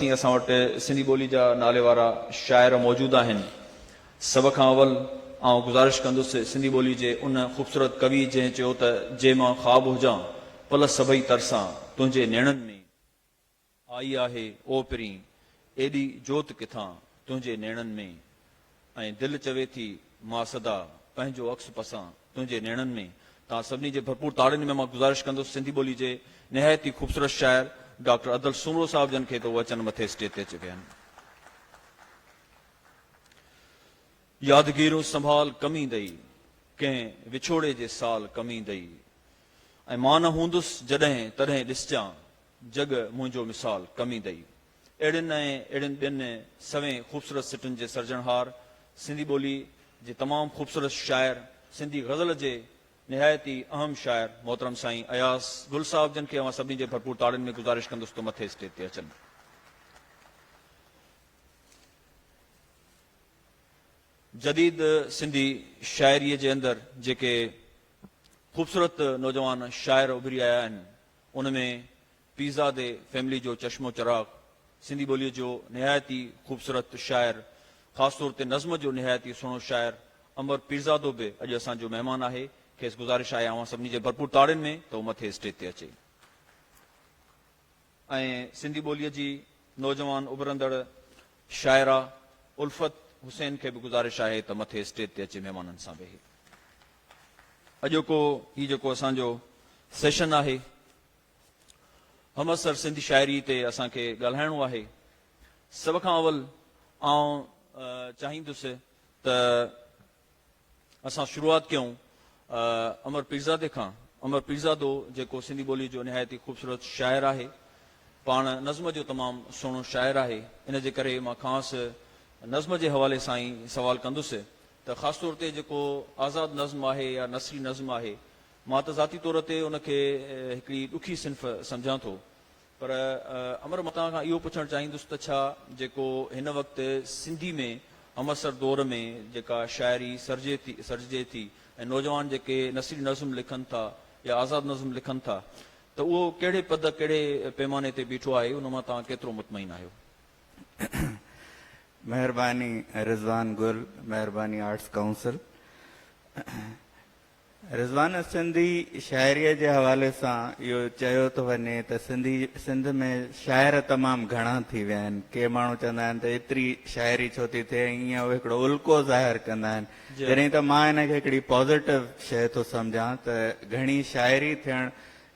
تائين اسان وٽ سنڌي ٻولي جا ناليوارا شاعر موجود آهن. سڀ کان اول آئون گذارش ڪندس سنڌي ٻولي جي ان خوبصورت ڪوي جنهن چيو ته جي مان خواب هجان پل سڀئي ترسان تنهنجي نيڻن ۾. آئي آهي او پرين ايڏي جوت ڪٿان تنهنجي نيڻن ۾. ۽ دل چوي ٿي ماء سدا پنهنجو عڪس پسان تنهنجي نيڻن ۾. توهان سڀني جي ڀرپور تاڙين ۾ مان گذارش ڪندس سنڌي ٻولي جي نهايت ئي خوبصورت شاعر ڊاڪٽر ادل سومرو صاحب جن کي ته هو اچن مٿي اسٽيج تي اچي ويهن. يادگيرون سنڀال ڪم ايندئي، ڪنهن وڇوڙي جي سال ڪم ايندئي. ۽ مان نه هوندس جڏهن تڏهن ڏسجان، جڳ منهنجو مثال ڪم ايندئي. اهڙين ۽ اهڙين ٻين سوين خوبصورت سٽن جي سرجڻهار، سنڌي ٻولي جي تمام خوبصورت شاعر، سنڌي غزل جي نهايت ئي اهم شاعر محترم سائين اياز گل صاحب جن کي اوهان سڀني جي ڀرپور تاڙين ۾ گذارش ڪندس ته مٿي اسٽيج تي اچن. جديد سنڌي شاعريء جي اندر جيڪي خوبصورت نوجوان شاعر اڀري آيا آهن، ان ۾ پيرزادي فيملي جو چشمو چراغ، سنڌي ٻوليء جو نهايت ئي خوبصورت شاعر، خاص طور تي نظم جو نهايت ئي سهڻو شاعر امر پيرزادو به اڄ اسان جو مهمان آهي. کيس گذارش آهي اوهان سڀني جي ڀرپور تاڙين ۾ ته هو مٿي اسٽيج تي اچي ۽ سنڌي ٻوليء جي نوجوان اڀرندڙ شاعره الفت حسين کي به گذارش آهي ته مٿي اسٽيج تي اچي مهمانن سان ويهي. اڄوڪو هي جيڪو اسان جو سيشن آهي همعصر سنڌ شاعري تي اسان کي ڳالهائڻو آهي. سڀ کان اول آئون چاهيندس ته اسان شروعات ڪيون امر پيرزادي کان. امر پيرزادو جيڪو سنڌي ٻوليء جو نهايت ئي خوبصورت شاعر آهي. پاڻ نظم جو تمام سهڻو شاعر آهي. ان جي ڪري مان کانئس نظم جي حوالي سان ئي سوال ڪندس ته خاص طور تي جيڪو آزاد نظم آهي يا نثري نظم آهي مان ته ذاتي طور تي ان کي هڪڙي ڏکي صنف سمجهان ٿو پر امر مان توهان کان اهو پڇڻ چاهيندس ته ڇا جيڪو هن وقت سنڌي ۾ همعصر دور ۾ جيڪا شاعري سرجي ٿي سرجي ٿي ۽ نوجوان جيڪي نثري نظم لکن ٿا يا آزاد نظم لکن ٿا ته اهو ڪهڙي پد ڪهڙي پيماني تي بيٺو آهي ان مان توهان ڪيترو مطمئن آهيو. مهرباني رضوان گل مهرباني آرٽس ڪائونسل. رضوان ھه سنڌي شاعريء جي حوالي سان اھو چيو ٿو وڃي ته سنڌي سنڌ ۾ شاعر تمام گھڻا ٿي ويا آھن. ڪي ماڻھو چوندا آھن ته ايتري شاعري ڇو ٿي ٿئي ۽ ايئن اھو ھڪڙو الڪو ظاھر ڪندا آھن. جڏھن ته مان ان کي ھڪڙي پازيٽو شيء ٿو سمجھان ته گھڻي شاعري ٿيڻ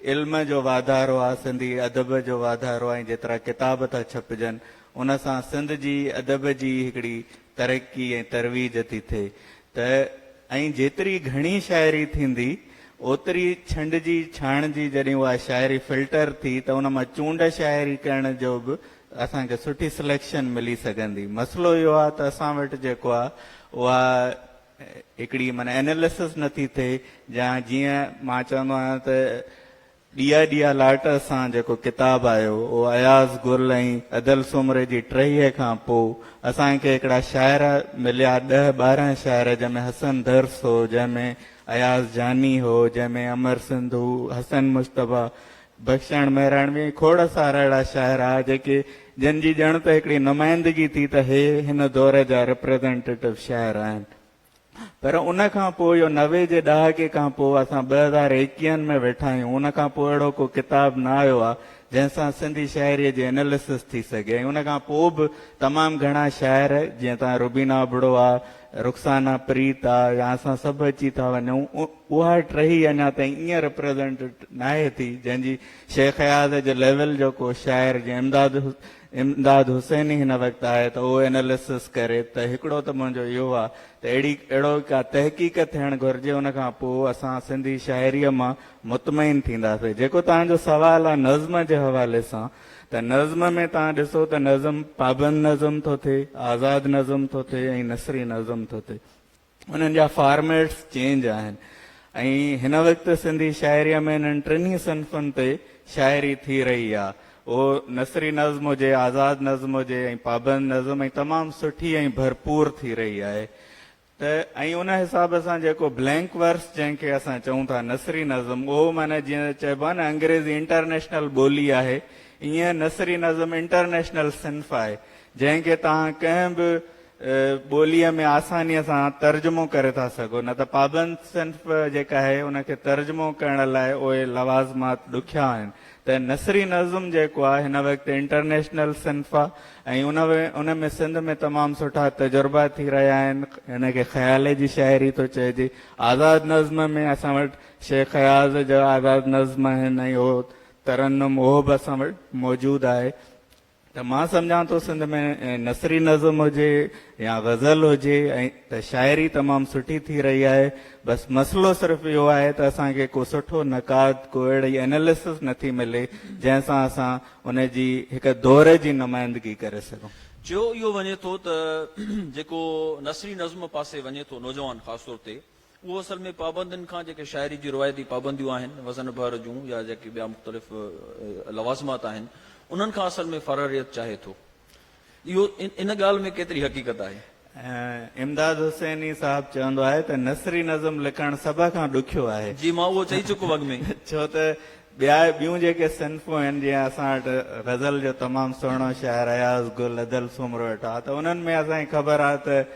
علم جو واڌارو آھي، سنڌي ادب جو واڌارو آھي ۽ جيترا ڪتاب ٿا ڇپجن ان سان سنڌ جي ادب جي ھڪڙي ترقي ۽ ترويج ٿي ٿئي. ته ۽ جيتري گهڻي شاعري ٿيندي اوتري ڇنڊجي ڇاڻجي جڏهن اها شاعري فلٽر ٿي ته ان مان چونڊ شاعري ڪرڻ جو به اسان کي سٺي سليڪشن ملي سگهندي مسئلو اهو آهي ته اسان وٽ جيڪو آهي اها هڪڙي معنيٰ اناليسس نٿي ٿئي جا جيئن مان چوندو آهيان ته ڏيئا ڏيئا لاٽ سان جيڪو ڪتاب آيو اهو اياز، گل ۽ ادل سومري جي ٽهيء کان پوء اسان کي هڪڙا شاعر مليا ڏهه ٻارهن شاعر جنهن ۾ حسن درس هو، جنهن ۾ اياز جاني هو، جنهن ۾ امر سنڌو، حسن مصطفيٰ، بخشڻ مهراڻوي ۽ کوڙ سارا اهڙا شاعر ها جيڪي جن جي ڄڻ ته هڪڙي نمائندگي ٿي ته هي هن دور جا رپريزنٽيٽو شاعر آهن. پر ان کان پوء اهو نوي جي ڏهاڪي کان پوء اسان ٻه هزار ايڪيهن ۾ ويٺا آهيون ان کان پوء اهڙو ڪو ڪتاب نه آيو آهي جنهن سان سنڌي شاعري جي اناليسس ٿي سگهي ۽ ان کان پوء به تمام گهڻا شاعر جيئن ته روبينا ابڙو آ رخسانه پريت آ يا اسان سڀ اچي ٿا وڃون اها ٽهي اڃا تائين ائين ريپريزنٽ ناهي ٿي جنهن جي شيخ اياز جي ليول جو ڪو شاعر جيئن امداد امداد حسيني هن وقت آهي ته اهو اناليسس ڪري ته هڪڙو ته منهنجو اهو آ ته اهڙي اهڙو ڪا تحقيق ٿيڻ گهرجي ان کان پوء اسان سنڌي شاعريء مان مطمئن ٿينداسين جيڪو توهان جو سوال آ نظم جي حوالي سان ته نظم ۾ توهان ڏسو ته نظم پابند نظم ٿو ٿئي آزاد نظم ٿو ٿئي ۽ نثري نظم ٿو ٿئي انهن جا فارميٽس چينج آهن ۽ هن وقت سنڌي شاعريء ۾ انهن ٽنهي صنفن تي شاعري ٿي رهي آ. اهو نثري نظم هجي، آزاد نظم هجي ۽ پابند نظم ۽ تمام سٺي ۽ ڀرپور ٿي رهي آهي ته ۽ ان حساب سان جيڪو بلينڪ ورس جنهن کي اسان چئون ٿا نثري نظم اهو معنيٰ جيئن چئبو آهي نه انگريزي انٽرنيشنل ٻولي آهي ايئن نثري نظم انٽرنيشنل صنف آهي جنهن کي توهان ڪنهن به ٻوليء ۾ آسانيء سان ترجمو ڪري ٿا سگهو، نه ته پابند صنف جيڪا آهي، ان کي ترجمو ڪرڻ لاء اهي لوازمات ڏکيا آهن، ته نثري نظم جيڪو آهي، هن وقت انٽرنيشنل صنف آهي ۽ ان ۾ سنڌ ۾ تمام سٺا تجربا ٿي رهيا آهن. هن کي خيالي جي شاعري ٿو چئجي. آزاد نظم ۾ اسان وٽ شيخ اياز جا آزاد نظم آهن ۽ اهو ترنم، اهو به اسان وٽ موجود آهي. ته مان سمجهان ٿو سنڌ ۾ نثري نظم هجي يا غزل هجي ته شاعري تمام سٺي ٿي رهي آهي بس مسئلو صرف اهو آهي ته اسان کي ڪو سٺو نقاد ڪو اهڙي اناليسس نٿي ملي جنهن سان اسان ان جي هڪ دور جي نمائندگي ڪري سگهون. چيو اهو وڃي ٿو ته جيڪو نثري نظم پاسي وڃي ٿو نوجوان خاص طور تي اهو اصل ۾ پابندين کان جيڪي شاعري جون روايتي پابنديون آهن، وزن ڀر جون يا جيڪي ٻيا مختلف لوازمات آهن، انهن کان اصل ۾ فراريت چاهي ٿو. اهو ان ڳالهه ۾ ڪيتري حقيقت آهي؟ امداد حسيني صاحب چوندو آهي ته نثري نظم لکڻ سڀ کان ڏکيو آهي. جي مان اهو چئي چڪو اڳ ۾. ڇو ته ٻيا ٻيون جيڪي صنفون آهن، جيئن اسان وٽ غزل جو تمام سهڻو شاعر اياز گل ادل سومرو ويٺو آهي ته انهن ۾ اسان کي خبر آهي ته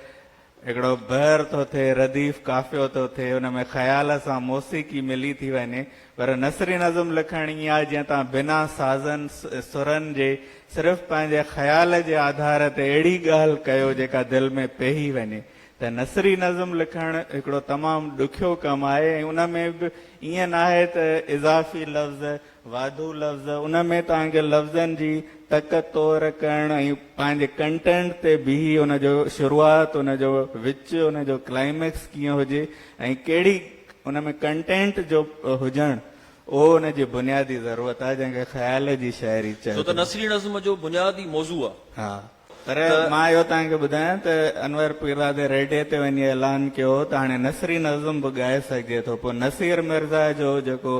هڪڙو بحر ٿو ٿئي، رديف قافيو ٿو ٿئي، ان ۾ خيال سان موسيقي ملي ٿي وڃي، پر نثري نظم لکڻ ائين آهي جئين تان بنا سازن، سرن جي صرف پنهنجي خيال جي آڌار تي اهڙي ڳالهه ڪيو جيڪا دل ۾ پيهي وڃي ته نثري نظم لکڻ هڪڙو تمام ڏکيو ڪم آهي ۽ ان ۾ به ائين ناهي ته اضافي لفظ واڌو لفظ، ان ۾ توهان کي لفظن جي تڪ تور ڪرڻ ۽ پنهنجي ڪنٽينٽ تي بيهي ان جو شروعات، ان جو وچ، ان جو ڪلائميڪس ڪيئن هجي ۽ ڪهڙي ان ۾ ڪنٽينٽ جو هجڻ اهو ان جي بنيادي ضرورت آهي جنهن کي خيال جي شاعري چئبو. ڇو ته نثري نظم جو بنياد ئي موضوع آهي. پر مان اهو توهان کي ٻڌايان ته انور پيرزادي ريڊيو تي وڃي اعلان ڪيو هو ته هاڻي نثري نظم به ڳائي سگهجي ٿو پوء نصير مرزا جو جيڪو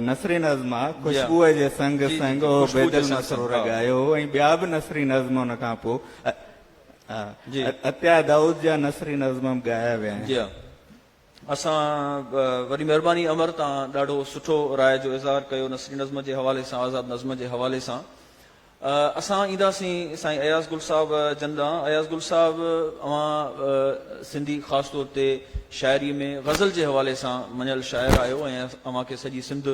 نثري نظم آهي خوشبوء جي سنگ سنگ اهو بيد المسرور ڳايو هو ۽ ٻيا به نثري نظم ان کان پوء عطيه دائود جا نثري نظم به ڳايا ويا آهن. اسان وڏي مھرباني امر تان ڏاڍو سٺو راء جو اظھار ڪيو نثري نظم جي حوالي سان آزاد نظم جي حوالي سان اسان ايندا سين سائين اياز گل صاحب جن ڏانھن اياز گل صاحب اوھان سنڌي خاص طور تي شاعري ۾ غزل جي حوالي سان مڃيل شاعر آھيو ۽ اوھان کي سڄي سنڌ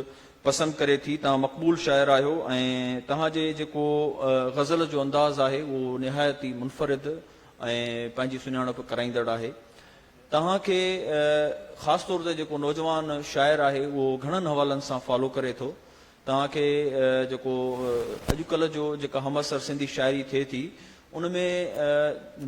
پسند ڪري ٿي تان مقبول شاعر آھيو ۽ تان جي جيڪو غزل جو انداز آھي اھو نھايت ئي منفرد ۽ پنھنجي سڃاڻپ ڪرائيندڙ آھي توهان کي خاص طور تي جيڪو نوجوان شاعر آهي اهو گهڻن حوالن سان فالو ڪري ٿو توهان کي جيڪو اڄ ڪلهه جو جيڪا همعصر سنڌي شاعري ٿئي ٿي ان ۾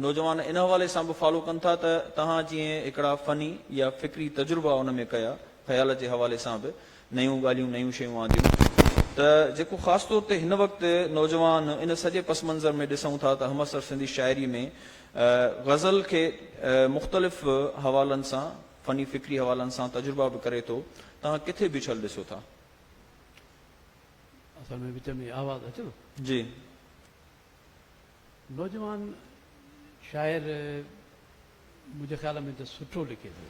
نوجوان ان حوالي سان به فالو ڪن ٿا ته توهان جيئن هڪڙا فني يا فڪري تجربا ان ۾ ڪيا خيال جي حوالي سان به نيون ڳالهيون، نيون شيون آنديون ته جيڪو خاص طور تي هن وقت نوجوان ان سڄي پس منظر ۾ ڏسون ٿا ته همعصر سنڌي شاعري ۾ غزل کي مختلف حوالن سان، فني فڪري حوالن سان تجربا به ڪري ٿو، توهان ڪٿي بڇل ڏسو ٿا؟ اصل ۾ وچ ۾ آواز اچي ٿو؟ جي. نوجوان شاعر منهنجي خيال ۾ ته سٺو لکي ٿو.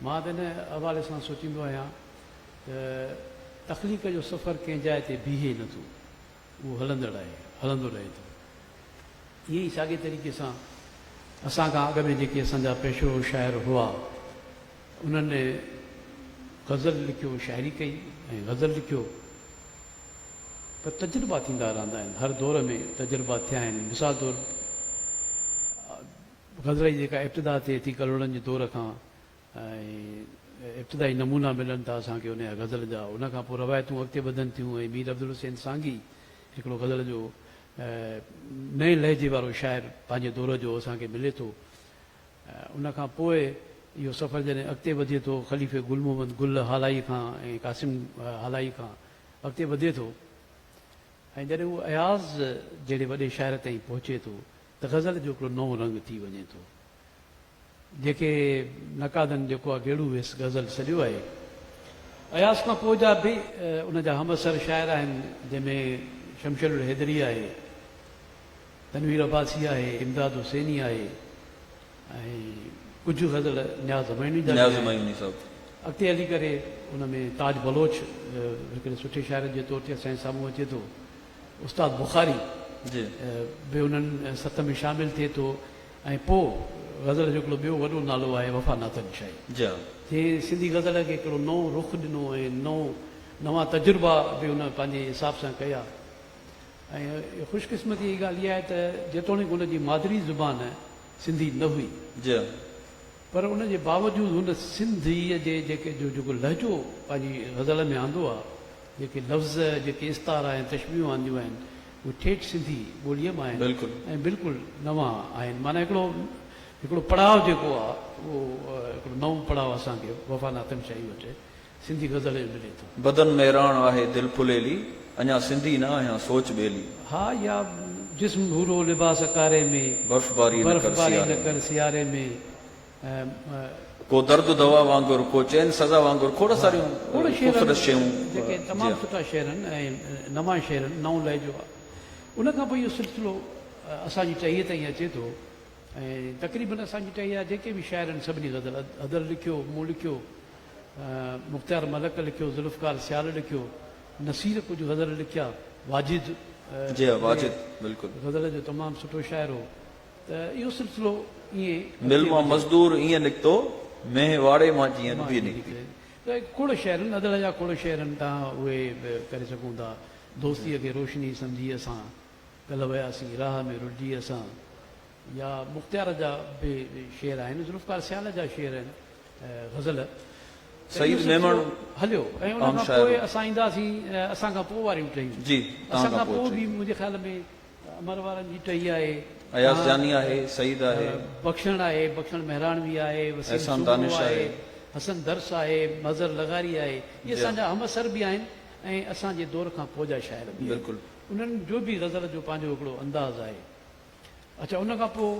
مان ته ان حوالي سان سوچيندو آهيان ته تخليق جو سفر ڪنهن جاء تي بيهي نه ٿو. اهو هلندڙ آهي، هلندو رهي ٿو. ائين ئي ساڳئي طريقي سان اسان کان اڳ ۾ جيڪي اسان جا پيشو شاعر هئا، انهن غزل لکيو، شاعري ڪئي ۽ غزل لکيو پر تجربا ٿيندا رهندا آهن، هر دور ۾ تجربا ٿيا آهن، مثال طور غزل جي جيڪا ابتدا ٿئي ٿي ڪلهوڙن جي دور کان ۽ ابتدائي نمونا ملن ٿا اسان کي ان جا غزل جا ان کان پوء روايتون اڳتي وڌن ٿيون ۽ مير عبدالحسين سانگي هڪڙو غزل جو نئين لهجي وارو شاعر پنهنجي دور جو اسان کي ملي ٿو. ان کان پوء اهو سفر جڏهن اڳتي وڌي ٿو، خليفي گل محمد گل هالائي کان ۽ قاسم هالائي کان اڳتي وڌي ٿو ۽ جڏهن اهو اياز جهڙي وڏي شاعر تائين پهچي ٿو ته غزل جو هڪڙو نئون رنگ ٿي وڃي ٿو، جيڪي نقادن جيڪو آ گيڙو ويس غزل سڏيو آهي. اياز کان پوء جا به ان جا همعصر شاعر آهن، جنهن ۾ شمشيرالحيدري آهي. تنوير عباسي آهي، امداد حسيني آهي ۽ ڪجهه غزل نياز همايوني جا به آهن. اڳتي هلي ڪري ان ۾ تاج بلوچ هڪڙي سٺي شاعر جي طور تي اسان جي سامهون اچي ٿو. استاد بخاري به انهن ست ۾ شامل ٿئي ٿو ۽ پوء غزل جو هڪڙو ٻيو وڏو نالو آهي وفا ناتن شاهي جنهن سنڌي غزل کي هڪڙو نئون رخ ڏنو ۽ نئون نوان تجربا به ان پنهنجي حساب سان ڪيا. ۽ خوش قسمتيء جي ڳالهه اها آهي ته جيتوڻيڪ هن جي مادري زبان سنڌي نه هئي جئن پر ان جي باوجود هن سنڌيء جي جيڪي جو جيڪو لهجو پنهنجي غزل ۾ آندو آهي، جيڪي لفظ، جيڪي استعارا ۽ تشبيهون آنديون آهن، اهي ٺيٺ سنڌي ٻوليء مان آهن بلڪل. ۽ بلڪل نوان آهن. معنيٰ هڪڙو هڪڙو پڙاء جيڪو آهي اهو هڪڙو نئون پڙاء اسان کي وفا ناطق شاهي وٽ سنڌي غزل ۾ ملي ٿو. بدن ۾ راڻ آهي دل ڦليلي. اڃا سنڌي نه آهيان سوچ ٻيلي. ها يا جسم ڀورو لباس ڪاري ۾. برف باري نه ڪر سياري ۾. برف باري نه ڪر سياري ۾. ڪو درد دوا وانگر ڪو چين سزا وانگر کوڙ ساريون خوبصورت شيون جيڪي تمام سٺا شعر آهن ۽ نوان شعر آهن نئون لهجو آهي ان کان پوء اهو سلسلو اسان جي ٽهيء تائين اچي ٿو ۽ تقريبن اسان جي ٽهيء جا جيڪي به شاعر آهن سڀني غزل ادل لکيو مون لکيو مختيار ملڪ لکيو، ذوالفقار سيال لکيو، نصير ڪجهه غزل لکيا، واجد جي ها واجد ۾ بلڪل. غزل جو تمام سٺو شاعر هو ته اهو سلسلو ائين مل اڳتي مان وڌيو. مزدور ائين نڪتو، مينهن واڙي مان جيئن ڏوهي مان نڪتي. نڪتي. ته کوڙ شعر آهن، ادل جا کوڙ شعر آهن، تان اهي به ڪري سگهون ٿا. دوستيء کي روشني سمجهي اسان، ڪلهه وياسين راهه ۾ رلجي اسان. يا مختيار جا به شعر آهن، ذوالفقار سيال جا شعر آهن، غزل ته اهو سلسلو هليو ۽ ان کان پوء اسان اينداسين اسان کان پوء واريون ٽهيون، اسان کان پوء به منهنجي خيال ۾ امر وارن جي ٽهي آهي، بخشڻ آهي، بخشڻ مهراڻوي آهي، وسيم سومرو آهي، حسن درس آهي، مظهر لغاري آهي، اهي اسان جا همعصر به آهن ۽ اسان جي دور کان پوء جا شاعر به آهن، انهن جو به غزل جو پنهنجو هڪڙو انداز آهي. اچا ان کان پوء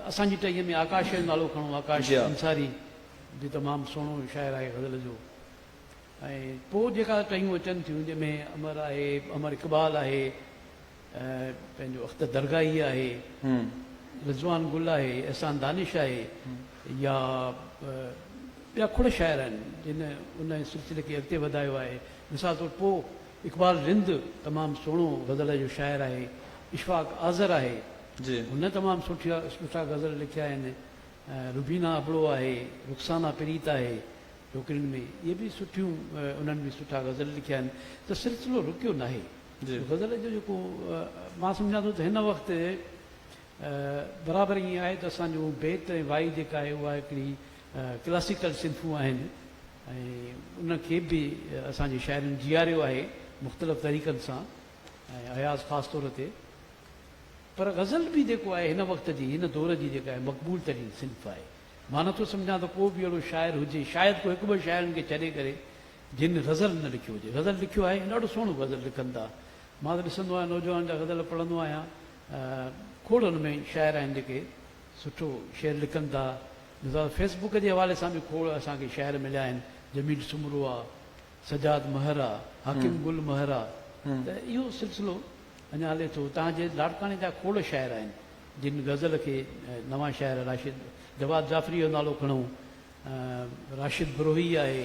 اسان جي ٽهيء ۾ آڪاش جو نالو کڻو، آڪاش انصاري به تمام سهڻو شاعر آهي غزل جو ۽ پوء جيڪا ٽهيون اچن ٿيون جنهن ۾ امر آهي، امر اقبال آهي، پنهنجو اختر درگاهي آهي، رضوان گل آهي، احسان دانش آهي يا ٻيا کوڙ شاعر آهن جن ان سلسلي کي اڳتي وڌايو آهي مثال طور پوء اقبال رند تمام سهڻو غزل جو شاعر آهي اشفاق آذر آهي جي. هن تمام سٺيا سٺا غزل لکيا آهن روبينا ابڙو آهي رخسانا پريت آهي ڇوڪرين ۾ اهي به سٺيون انهن به سٺا غزل لکيا آهن ته سلسلو رڪيو ناهي جي. غزل جو جيڪو مان سمجهان ٿو ته هن وقت برابر ائين آهي ته اسان جو بيت ۽ وائي جيڪا آهي اها هڪڙي ڪلاسيڪل صنفون آهن ۽ ان کي به اسان جي شاعرن جياريو آهي مختلف طريقن سان ۽ اياز خاص طور تي پر غزل به جيڪو آهي هن وقت جي هن دور جي جيڪا آهي مقبول ترين صنف آهي مان نٿو سمجهان ته ڪو به اهڙو شاعر هجي شايد ڪو هڪ ٻه شاعرن کي ڇڏي ڪري جن غزل نه لکيو هجي غزل لکيو آهي ڏاڍو سهڻو غزل لکن ٿا مان ته ڏسندو آهيان نوجوانن جا غزل پڙهندو آهيان کوڙ ان ۾ شاعر آهن جيڪي سٺو شعر لکن ٿا مزاج فيس بوڪ جي حوالي سان به کوڙ اسان کي شاعر مليا آهن جميل سومرو آ سجاد مهر آ حاڪم گل مهر آ ته اهو سلسلو اڃان هلي ٿو تان جي لاڙڪاڻي جا کوڙ شاعر آهن جن غزل کي نوان شاعر راشد جواد جعفري جو نالو کڻون راشد بروهي آهي.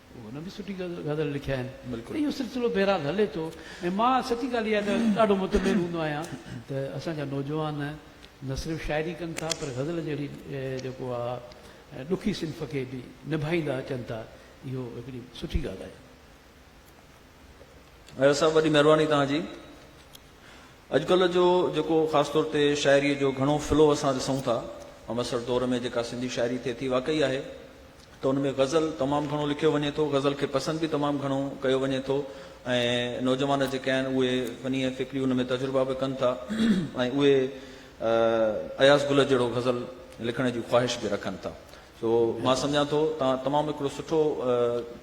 هن به سٺي غزل لکيا آهن ته اهو سلسلو بهرحال هلي ٿو ۽ مان سچي ڳالهه اها ته ڏاڍو مطمئن هوندو آهيان ته اسان جا نوجوان نه صرف شاعري ڪن ٿا پر غزل جهڙي جيڪو آهي ڏکي صنف کي به نڀائيندا اچن ٿا اهو هڪڙي سٺي ڳالهه آهي. اياز صاحب وڏي مهرباني توهان جي. اڄڪلهه جو جيڪو خاص طور تي شاعري جو گهڻو فلو اسان ڏسون ٿا، همعصر دور ۾ جيڪا سنڌي شاعري ٿئي ٿي واقعي آهي ته ان ۾ غزل تمام گهڻو لکيو وڃي ٿو، غزل کي پسند به تمام گهڻو ڪيو وڃي ٿو ۽ نوجوان جيڪي آهن اهي فني ۽ فڪري ان ۾ تجربا به ڪن ٿا ۽ اهي اياز گل جهڙو غزل لکڻ جي خواهش به رکن ٿا سو مان سمجهان ٿو تان تمام هڪڙو سٺو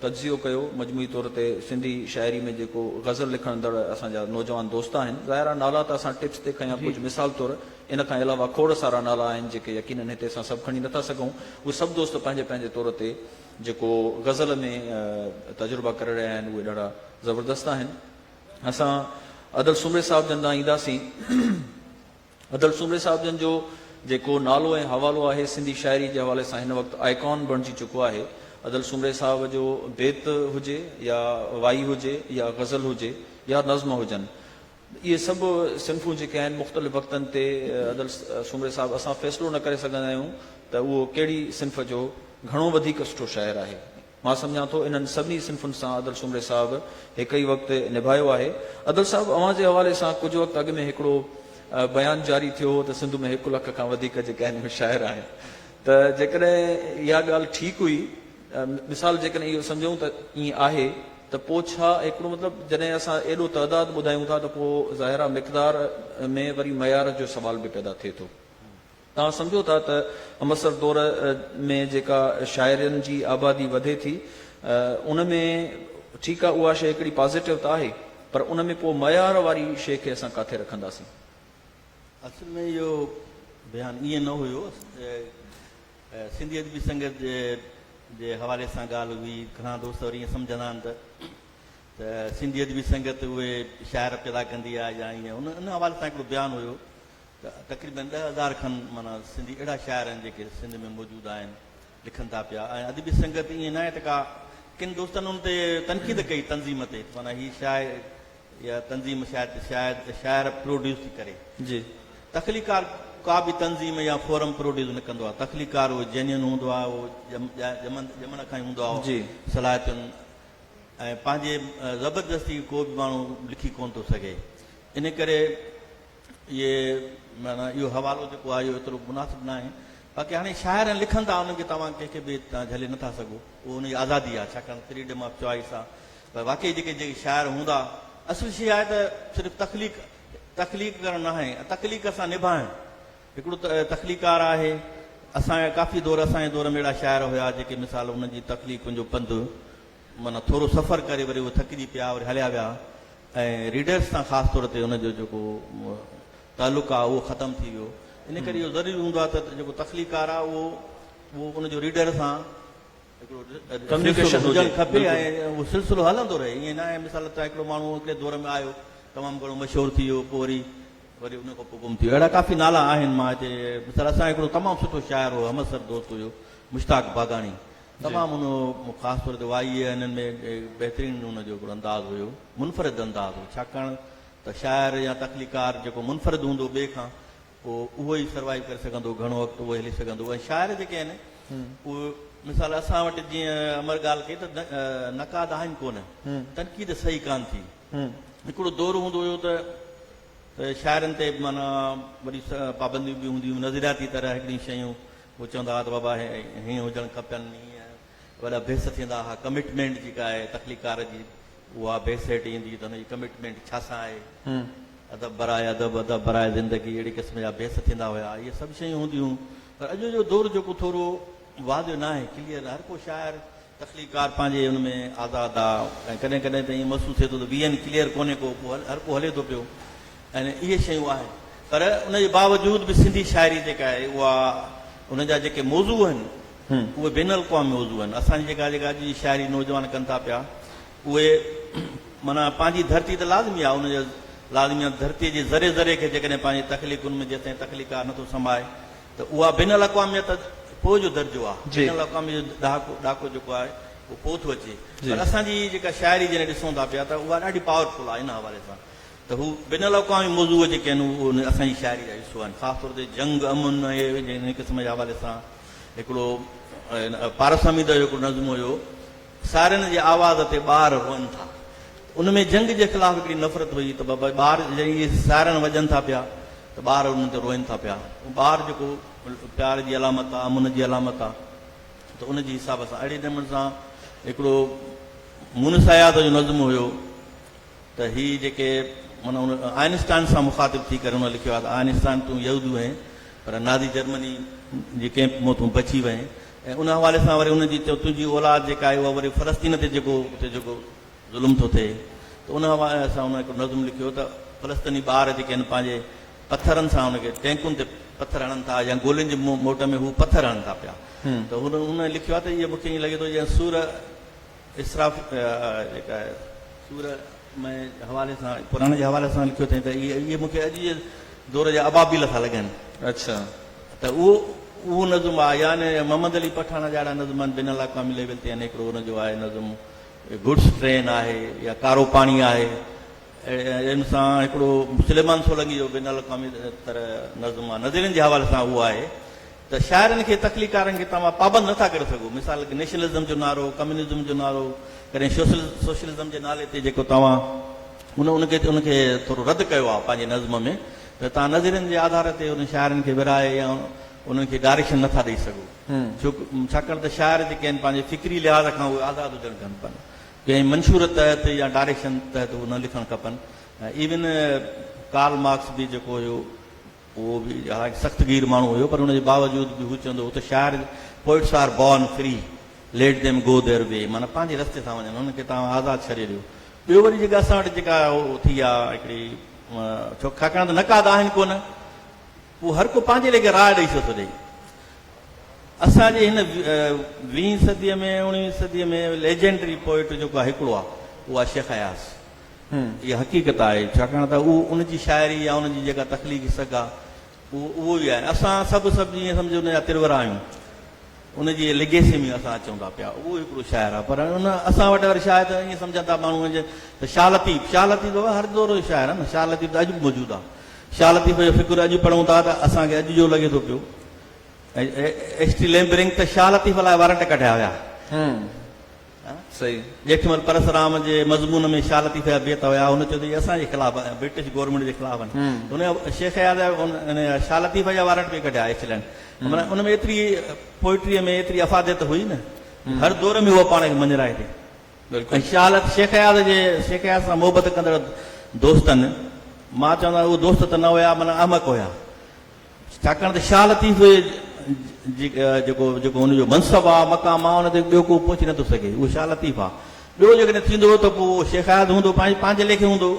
تجزيو ڪيو مجموعي طور تي سنڌي شاعري ۾ جيڪو غزل لکڻندڙ اسان جا نوجوان دوست آهن ظاهر آهي نالا ته اسان ٽپس تي کنيا ڪجهه مثال طور ان کان علاوه کوڙ سارا نالا آهن جيڪي يقينن هتي اسان سڀ کڻي نٿا سگهون. اهي سڀ دوست پنهنجي پنهنجي طور تي جيڪو غزل ۾ تجربا ڪري رهيا آهن اهي ڏاڍا زبردست آهن. اسان ادل سومري صاحب جن ڏانهن اينداسين. ادل سومري صاحب جن جو جيڪو نالو ۽ حوالو آهي سنڌي شاعري جي حوالي سان هن وقت آئيڪان بڻجي چڪو آهي. ادل سومري صاحب جو بيت هجي يا وائي هجي يا غزل هجي يا نظم هجن اهي سڀ صنفون جيڪي آهن مختلف وقتن تي عدل سومري صاحب اسان فيصلو نه ڪري سگهندا آهيون ته اهو ڪهڙي صنف جو گهڻو وڌيڪ سٺو شاعر آهي مان سمجهان ٿو انهن سڀني صنفن سان عدل سومري صاحب هڪ ئي وقت نڀايو آهي عدل صاحب اوهان جي حوالي سان ڪجهه وقت اڳ ۾ هڪڙو بيان جاري ٿيو هو ته سنڌ ۾ هڪ لک کان وڌيڪ جيڪي آهن اهي شاعر آهن ته جيڪڏهن اها ڳالهه ٺيڪ هئي مثال جيڪڏهن اهو سمجهون ته ائين آهي ته پوء ڇا؟ هڪڙو مطلب جڏهن اسان ايڏو تعداد ٻڌايون ٿا ته پوء ظاهر آهي مقدار ۾ وري معيار جو سوال به پيدا ٿئي ٿو. توهان سمجهو ٿا ته همعصر دور ۾ جيڪا شاعرن جي آبادي وڌي ٿي ان ۾ ٺيڪ آهي اها شيء هڪڙي پازيٽو ته آهي پر ان ۾ پوء معيار واري شيء کي اسان ڪاٿي رکنداسين؟ اصل ۾ اهو بيان ائين نه هيو. سنڌي ادبي سنگت جي حوالي سان ڳالهه هئي. گهڻا دوست وري ائين سمجهندا آهن ته ته سنڌي ادبي سنگت اهي شاعر پيدا ڪندي آهي يا ائين. ان ان حوالي سان هڪڙو بيان هيو ته تقريبن ڏهه هزار کن معنيٰ سنڌي اهڙا شاعر آهن جيڪي سنڌ ۾ موجود آهن، لکن ٿا پيا ۽ ادبي سنگت ائين ناهي ته ڪا ڪن دوستن ان تي تنقيد ڪئي تنظيم تي معنيٰ هي شاعر اها تنظيم شايد شايد شاعر پروڊيوس ٿي ڪري. جي. تخليقڪار ڪا به تنظيم يا فورم پروڊيوس نه ڪندو آهي. تخليقڪار اهو جينين هوندو آهي، اهو ڄمند ڄمڻ کان ئي هوندو آهي، جي. صلاحيتن ۽ پنهنجي زبردستي ڪو به ماڻهو لکي ڪونه ٿو سگهي. انهي ڪري اهي معنيٰ اهو حوالو جيڪو آهي اهو ايترو مناسب نه آهي. باقي هاڻي شاعر لکن ٿا انهن کي توهان ڪنهن کي به جهلي نه ٿا سگهو. اهو انهن جي آزادي آهي ڇاڪاڻ ته فريڊم آف چوائس آهي. پر واقعي جيڪي جيڪي شاعر هوندا، اصل شيء آهي ته صرف تخليق تخليق ڪرڻ ناهي، تخليق سان نڀائڻ. هڪڙو تخليقڪار آهي، اسان جا ڪافي دور اسان جي دور ۾ اهڙا شاعر هيا جيڪي مثال انهن جي تخليقن جو پنڌ معنيٰ ٿورو سفر ڪري وري اهي ٿڪجي پيا وري هليا ويا ۽ ريڊرس سان خاص طور تي انهن جو جيڪو تعلق آهي اهو ختم ٿي ويو ان ڪري اهو ضروري هوندو آهي ته جيڪو تخليقڪار آهي اهو ان جو ريڊر سان ڪميونيڪيشن هجڻ کپي ۽ اهو سلسلو هلندو رهي ائين ناهي مثال طور هڪڙو ماڻهو هڪڙي دور ۾ آيو تمام گهڻو مشهور ٿي ويو پوء وري وري ان کان پوء گم ٿي ويو اهڙا ڪافي نالا آهن مان هتي مثال اسان جو هڪڙو تمام سٺو شاعر هو همعصر دوست هيو مشتاق باگاڻي تمام ان خاص طور تي وائيء انهن ۾ بهترين ان جو هڪڙو انداز هيو منفرد انداز هو ڇاڪاڻ ته شاعر يا تخليقڪار جيڪو منفرد هوندو ٻئي کان پوء اهو ئي سروائيو ڪري سگهندو، گهڻو وقت اهو ئي هلي سگهندو ۽ شاعر جيڪي آهن اهي مثال اسان وٽ جيئن امر ڳالهه ڪئي ته نقاد آهن ڪونه، تنقيد صحيح ڪانه ٿي. هڪڙو دور هوندو هيو ته شاعرن تي معنيٰ وڏي پابنديون به هونديون هيون، نظرياتي طرح هڪڙيون شيون هو چوندا هئا ته بابا هي هيئن هجڻ کپن، هيئن. وڏا بحث ٿيندا ها ڪمٽمينٽ جيڪا آهي تخليقڪار جي اها بيسيٽ ايندي ته ان جي ڪمٽمينٽ ڇا سان آهي ادب برائي ادب ادب برائي زندگي اهڙي قسم جا بحث ٿيندا هيا اهي سڀ شيون هونديون پر اڄ جو دور جيڪو ٿورو واضح ناهي ڪليئر هر ڪو شاعر تخليقڪار پنهنجي ان ۾ آزاد آ ۽ ڪڏهن ڪڏهن ته ائين محسوس ٿئي ٿو ته ويهن ڪليئر ڪونهي ڪو پوء هر ڪو هلي ٿو پيو ۽ اهي شيون آهن پر ان جي باوجود به سنڌي شاعري جيڪا آهي اها ان جا جيڪي موضوع آهن اهي بين الاقوامي موضوع آهن. اسان جي جيڪا جيڪا اڄ جي شاعري نوجوان ڪن ٿا پيا اهي معنيٰ پنهنجي ڌرتي ته لازمي آهي ان جا لازمي آهن ڌرتي جي ذري ذري کي جيڪڏهن پنهنجي تخليقن ۾ جيستائين تخليقڪار نٿو سمائي ته اها بين الاقواميت ته پوء جو درجو آهي بين الاقواميت جو ڏهاڪو ڏاڪو جيڪو آهي اهو پوء ٿو اچي پر اسان جي هي جيڪا شاعري جڏهن ڏسون ٿا پيا ته اها ڏاڍي پاور فل آهي ان حوالي سان ته هو بين الاقوامي موضوع جيڪي آهن اهي اسان جي شاعري جا حصو آهن خاص طور تي جنگ امن ۽ هن قسم جي حوالي سان هڪڙو پارس حميد جو هڪڙو نظم هيو، سارين جي آواز تي ٻار روئن ٿا. ان ۾ جنگ جي خلاف هڪڙي نفرت هئي ته بابا ٻار جڏهن اهي سارن وڄن ٿا پيا ته ٻار انهن تي روئن ٿا پيا. ٻار جيڪو پيار جي علامت آ، امن جي علامت آ ته ان جي حساب سان اهڙي نموني سان هڪڙو مونس اياز جو نظم هيو. ته هي جيڪي معنيٰ هن آئنسٽائن سان مخاطب ٿي ڪري هن لکيو آهي ته آئنسٽائن تون يهودي هئين پر نازي جرمني جي ڪئمپ مان تون بچي وئين ۽ ان حوالي سان وري ان جي تنهنجي اولاد جيڪا آهي اها وري فلسطين تي جيڪو اتي جيڪو ظلم ٿو ٿئي ته ان حوالي سان هن هڪڙو نظم لکيو ته فلسطيني ٻار جيڪي آهن پنهنجي پٿرن سان ان کي ٽينڪن تي پٿر هڻن ٿا يا گولين جي موٽ ۾ هو پٿر هڻن ٿا پيا ته هن لکيو آهي ته اهي مون کي ائين لڳي ٿو ڄڻ سور اسراف جيڪا آهي سوره مئي جي حوالي سان قرآن جي حوالي سان لکيو اٿئين ته اهي مون کي اڄ جي دور جا ابابيل ٿا لڳن. اڇا. ته اهو اهو نظم آهي يعني محمد علي پٺاڻ جا اهڙا نظم آهن بين الاقوامي ليول تي يعني هڪڙو ان جو آهي نظم گڊس ٽرين آهي يا ڪارو پاڻي آهي ان سان هڪڙو سليمان سولنگي جو بين الاقوامي تر نظم آهي نظرين جي حوالي سان اهو آهي ته شاعرن کي تخليقڪارن کي توهان پابند نٿا ڪري سگهو مثال نيشنلزم جو نعرو ڪميونزم جو نعرو ڪڏهن سوشلزم جي نالي تي جيڪو توهان ان ان کي ان کي ٿورو رد ڪيو آهي پنهنجي نظم ۾ ته توهان نظرين جي آڌار تي انهن شاعرن کي ورهائي يا انهن کي ڊائريڪشن نٿا ڏئي سگهو ڇوڪ ڇاڪاڻ ته شاعر جيڪي آهن پنهنجي فڪري لحاظ کان اهي آزاد هجڻ کن پن ڪنهن منشور تحت يا ڊائريڪشن تحت اهي نه لکڻ کپن ايون ڪارل مارڪس به جيڪو هيو اهو به اها هڪ سخت گير ماڻهو هيو پر ان جي باوجود به هو چوندو هو ته شاعر Poets are born free Let them go their way معنيٰ پنهنجي رستي سان وڃن هنن کي توهان آزاد ڇڏي ڏيو. ٻيو وري جيڪا اسان وٽ جيڪا اهو ٿي آ هڪڙي ڇو ڇاڪاڻ ته نقاد آهن ڪونه پوء هر ڪو پنهنجي ليکي راء ڏئي ڇو ٿو ڏئي. اسان جي هن ويهين صديء ۾ اڻويهين صديء ۾ Legendary Poet جيڪو هڪڙو آ اهو آ شيخ اياز. اها حقيقت آهي، ڇاڪاڻ ته اهو ان جي شاعري يا ان جي جيڪا تخليقي سگهه آهي، اهو اهو ئي آهي. اسان سڀ سڀ جيئن سمجهو ان جا ترورا آهيون. ان جي ليگيسي ۾ اسان اچون ٿا پيا. اهو هڪڙو شاعر آهي. پر ان اسان وٽ وري شايد ائين سمجهن ٿا ماڻهو ان جي ته شاهه لطيف، شاهه لطيف بابا هر دور جو شاعر آهي نه. شاهه لطيف ته اڄ به موجود آهي. شاهه لطيف جو فڪر اڄ پڙهون ٿا ته اسان کي اڄ جو لڳي ٿو پيو. ايڇ ٽي ليمبرنگ ته شاهه لطيف لاء وارنٽ ڪڍايا هيا. سي ڄيٺمل پرسرام جي مضمون ۾ شال لطيفه جا بيت هيا هن چيو ته اهي اسان جي خلاف آهن برٽش گورنمينٽ جي خلاف آهن هن شيخ اياز جا ان شال لطيفه جا وارنٽ به ڪڍيا ايڪسلينٽ معنيٰ ان ۾ ايتري پوئٽري ۾ ايتري افاديت هئي نه هر دور ۾ هو پاڻ کي مڃرائي ٿي ۽ شال شيخ اياز جي شيخ اياز سان محبت ڪندڙ دوستن مان چوندا اهي دوست ته نه هيا معنيٰ احمق هيا ڇاڪاڻ ته شاهه لطيف جيڪو جيڪو ان جو منصب آ، مقام آ، ان تي ٻيو ڪو پهچي نٿو سگهي، اهو شاهه لطيف آ. ٻيو جيڪڏهن ٿيندو ته پوء اهو شيخ اياز هوندو، پنهنجي ليکي هوندو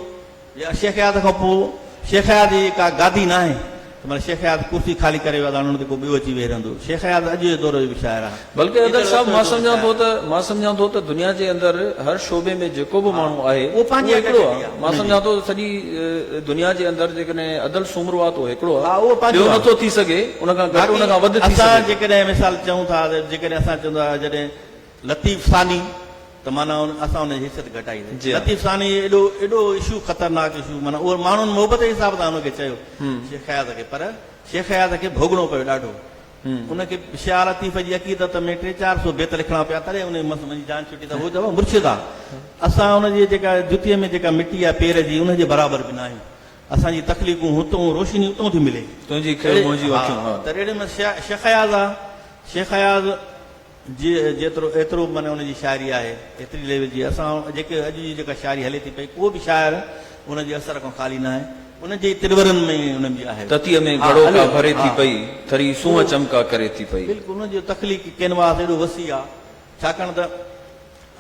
يا شيخ اياز کان پوء. شيخ اياز جي ڪا گادي ناهي ته معنيٰ شيخ اياز ڪرسي خالي ڪري ويو آ ته هاڻي ان تي ڪو ٻيو اچي ويهي رهندو. شيخ اياز اڄ جي دور جو به شاعر آ. بلڪه ادل صاحب مان سمجهان ٿو ته مان سمجهان ٿو ته دنيا جي اندر هر شعبي ۾ جيڪو به ماڻهو آهي اهو هڪڙو آهي مان سمجهان ٿو ته سڄي دنيا جي اندر جيڪڏهن ادل سومرو آهي ته اهو هڪڙو آهي ٻيو نه ٿو ٿي سگهي ان کان گهٽ ان کان وڌ ٿي سگهي ٿو. اسان جيڪڏهن مثال چئون ٿا ته جيڪڏهن اسان چئون ٿا جڏهن لطيف ثاني ته معنيٰ اسان ان جي حيثيت گهٽائيندي لطيف ثاني ايڏو ايڏو اشو خطرناڪ اشو معنيٰ اهو ماڻهن محبت جي حساب سان ان کي چيو شيخ اياز کي پر شيخ اياز کي ڀوڳڻو پيو ڏاڍو ان کي شاهه لطيف جي عقيدت ۾ ٽي چار سو بيت لکڻا پيا تڏهن ان مس منهنجي جان ڇٽي ته هو چيو مرشد آ اسان ان جي جيڪا جتي ۾ جيڪا مٽي آ پير جي ان جي برابر به ناهيون اسان جي تخليقون هتون روشني اتون ٿي ملي تنهنجي کيڙ منهنجيون اکيون ها ته اهڙي مس شيخ اياز آ شيخ اياز جي جيترو ايترو من ان جي شاعري آهي ايتري ليول جي اسان جيڪي اڄ جي جيڪا شاعري هلي ٿي پئي ڪو به شاعر ان جي اثر کان خالي ناهي ان جي ترورن ۾ ئي انهن جي آهي. تتيء ۾ گهڙو ڪا ڀري ٿي پئي ٿري سونهن چمڪا ڪري ٿي پئي. بلڪل ان جو تخليقي ڪينواس ايڏو وسيع آهي ڇاڪاڻ ته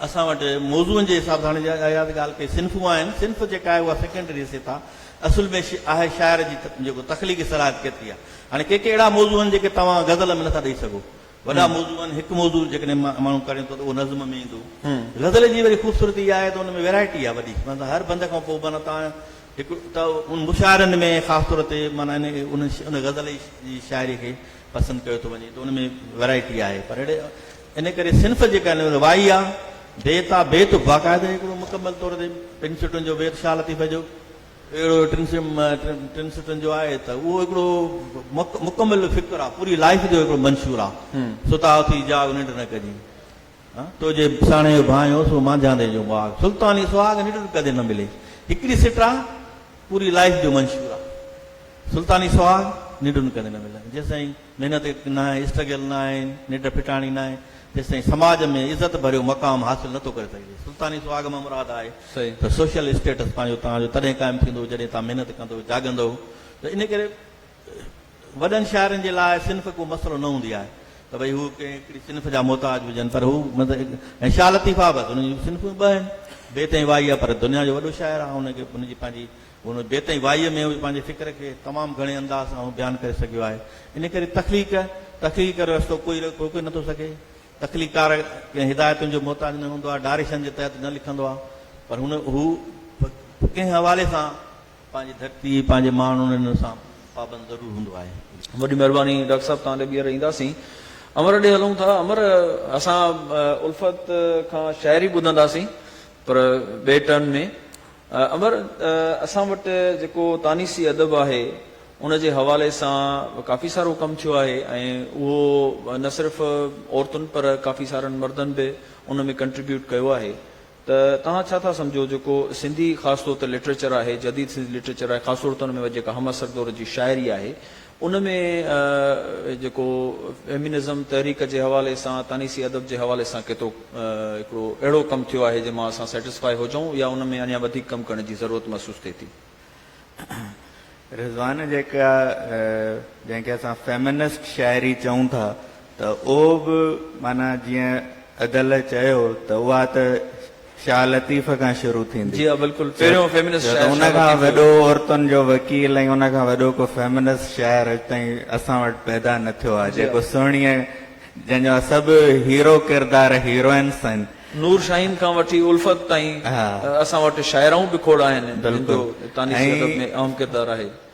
اسان وٽ موضوعن جي حساب سان هاڻي اها ته ڳالهه ڪئي صنفون آهن صنف جيڪا آهي اها سيڪنڊري حيثيت آهي اصل ۾ آهي شاعر جي جيڪو تخليقي صلاحيت ڪيتري آهي هاڻي ڪي ڪي اهڙا موضوع آهن جيڪي توهان غزل ۾ نٿا ڏئي سگهو وڏا موضوع آهن، هڪ موضوع جيڪڏهن ماڻهو ڪڙين ٿو ته اهو نظم ۾ ايندو. غزل جي وري خوبصورتي اها آهي ته ان ۾ ويرائٽي آهي وڏي، معنيٰ ته هر بند کان پوء معنيٰ توهان هڪ ته ان مشاعرن ۾ خاص طور تي معنيٰ ان ان غزل جي شاعري کي پسند ڪيو ٿو وڃي ته ان ۾ ويرائٽي آهي پر اهڙي ان ڪري صنف جيڪا آهن ان وائي آهي، بيت آهي، بيت باقاعده هڪڙو مڪمل طور تي پنج سٽن جو بيت شاهه لطيفه جو. اهڙو ٽن ٽن سٽن جو آهي ته اهو هڪڙو مڪمل فڪر آ پوري لائيف جو هڪڙو منشور آ ستا اٿي جاڳ ننڊ نه ڪجين تو جي ساڻي جو ڀانيو سو مانجهاندي جو ماڳ سلطاني سهاڳ ننڊ ڪدي نه ملي هڪڙي سٽ آ پوري لائيف جو منشور آ سلطاني سهاڳ ننڊ ڪدي نه ملي جيسين محنت ناهي، اسٽرگل ناهي، نڍ ڦٽاڻي ناهي، تيستائين سماج ۾ عزت ڀريو مقام حاصل نٿو ڪري سگهجي. سلطاني سهاڳ مان مراد آهي ته سوشل اسٽيٽس پنهنجو توهان جو تڏهن قائم ٿيندو جڏهن توهان محنت ڪندو، جاڳندؤ ته ان ڪري وڏن شاعرن جي لاء صنف ڪو مسئلو نه هوندي آهي ته ڀئي هو ڪنهن هڪڙي صنف جا محتاج هجن پر هو ۽ شاهه لطيف آباد هن جون صنفون ٻه آهن بيت ۽ وائي آهي پر دنيا جو وڏو شاعر آهي هن کي هن جي پنهنجي هن بيت ۽ وائيء ۾ هو پنهنجي فڪر کي تمام گهڻي انداز سان هو بيان ڪري سگهيو آهي. ان ڪري تخليق، تخليق ڪري رستو ڪوئي نه ڪوئي نه ٿو سگهي. تخليقڪار ڪنهن هدايتن جو محتاج نه هوندو آهي، ڊائريڪشن جي تحت نه لکندو آهي، پر هن هو به ڪنهن حوالي سان پنهنجي ڌرتي، پنهنجي ماڻهن ان سان پابند ضرور هوندو آهي. وڏي مهرباني ڊاڪٽر صاحب توهان ڏي ٻيهر اينداسين امر ڏي هلون ٿا امر اسان الفت کان شاعري ٻڌنداسين پر ٻئي ٽرن ۾. امر، اسان وٽ جيڪو تانيثي ادب آهي، ان جي حوالي سان به ڪافي سارو ڪم ٿيو آهي ۽ اهو نه صرف عورتن پر ڪافي سارن مردن به ان ۾ ڪنٽريبيوٽ ڪيو آهي ته توهان ڇا ٿا سمجهو جيڪو سنڌي خاص طور تي لٽريچر آهي، جديد سنڌي لٽريچر آهي، خاص طور تي ان ۾ جيڪا هم عصر دور جي شاعري آهي، ان ۾ جيڪو فيمينزم تحريڪ جي حوالي سان تانيسي ادب جي حوالي سان ڪيتوڪ هڪڙو اهڙو ڪم ٿيو آهي جنهن مان اسان سيٽسفائي هجون يا ان ۾ اڃا وڌيڪ ڪم ڪرڻ جي ضرورت محسوس ٿئي ٿي. رضوان جيڪا جنهن کي اسان فيمينسٽ شاعري چئون ٿا ته اهو به معنيٰ جيئن ادل چيو ته اها ته شاهه لطيف کان شروع ٿيندي. جي ها بلڪل پهريون فيمنسٽ شاعر شاهه لطيف هو. ان کان وڏو عورتن جو وڪيل ۽ ان کان وڏو ڪو فيمنسٽ شاعر اڄ تائين اسان وٽ پيدا نه ٿيو آهي جيڪو سهڻيء جنهن جا سڀ هيرو ڪردار هيروئنس آهن. نور شاهين کان وٺي الفت تائين اسان وٽ شاعرائون به کوڙ آهن جن جو تانيثي ادب ۾ اهم ڪردار آهي.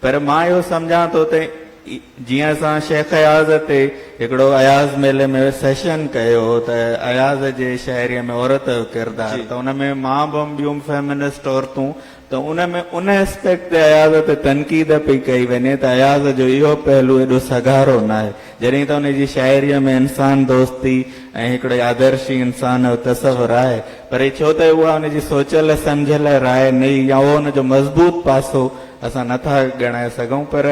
پر مان اهو سمجهان ٿو ته جيئن اسان شيخ اياز تي هڪڙو اياز ميلي ۾ سيشن ڪيو هو ته اياز جي شاعريء ۾ عورت جو ڪردار ته ان ۾ مان به هئم ٻيون به فيمنسٽ عورتون ته ان ۾ ان اسپيڪٽ تي اياز تي تنقيد پئي ڪئي وڃي ته اياز جو اهو پهلو ايڏو سگهارو ناهي جڏهن ته ان جي شاعريء ۾ انسان دوستي ۽ هڪڙي آدرشي انسان جو تصور آهي پر هي ڇو ته اها ان جي سوچيل سمجهيل راء نئي يا اهو ان جو مضبوط پاسو اسان نه ٿا ڳڻائي سگهون پر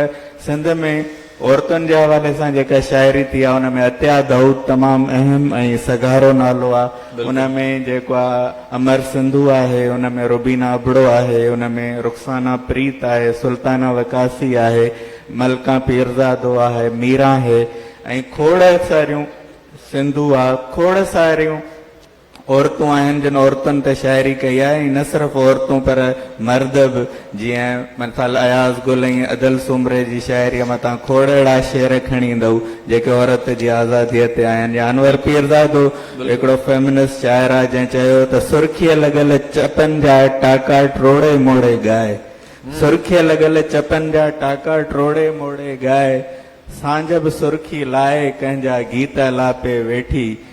سنڌ ۾ عورتن جي حوالي سان جيڪا شاعري ٿي آهي ان ۾ عطيه دائود تمام اهم ۽ سگهارو نالو آهي ان ۾ جيڪو آهي امر سنڌو آهي ان ۾ روبينا ابڙو آهي ان ۾ رخسانه پريت آهي سلطانه وقاصي آهي ملڪه پيرزادو آهي ميران هي ۽ کوڙ ساريون سنڌو آهي کوڙ ساريون عورتون آهن جن عورتن تي شاعري ڪئي آهي ۽ نه صرف عورتون پر مرد به جيئن مثال اياز گل ۽ ادل سومري جي شاعريء متان کوڙ اهڙا شعر کڻي ايندؤ جيڪي عورت جي آزاديء تي آهن يا انور پيرزادو هڪڙو فيمنسٽ شاعر آهي جنهن چيو ته سرخيء لڳل چپن جا ٽاڪا ٽروڙي موڙي ڳائي سرخيء لڳل چپن جا ٽاڪا ٽروڙي موڙي ڳائي سانجهه به سرخي لائي ڪنهن جا گيت الاپي ويٺي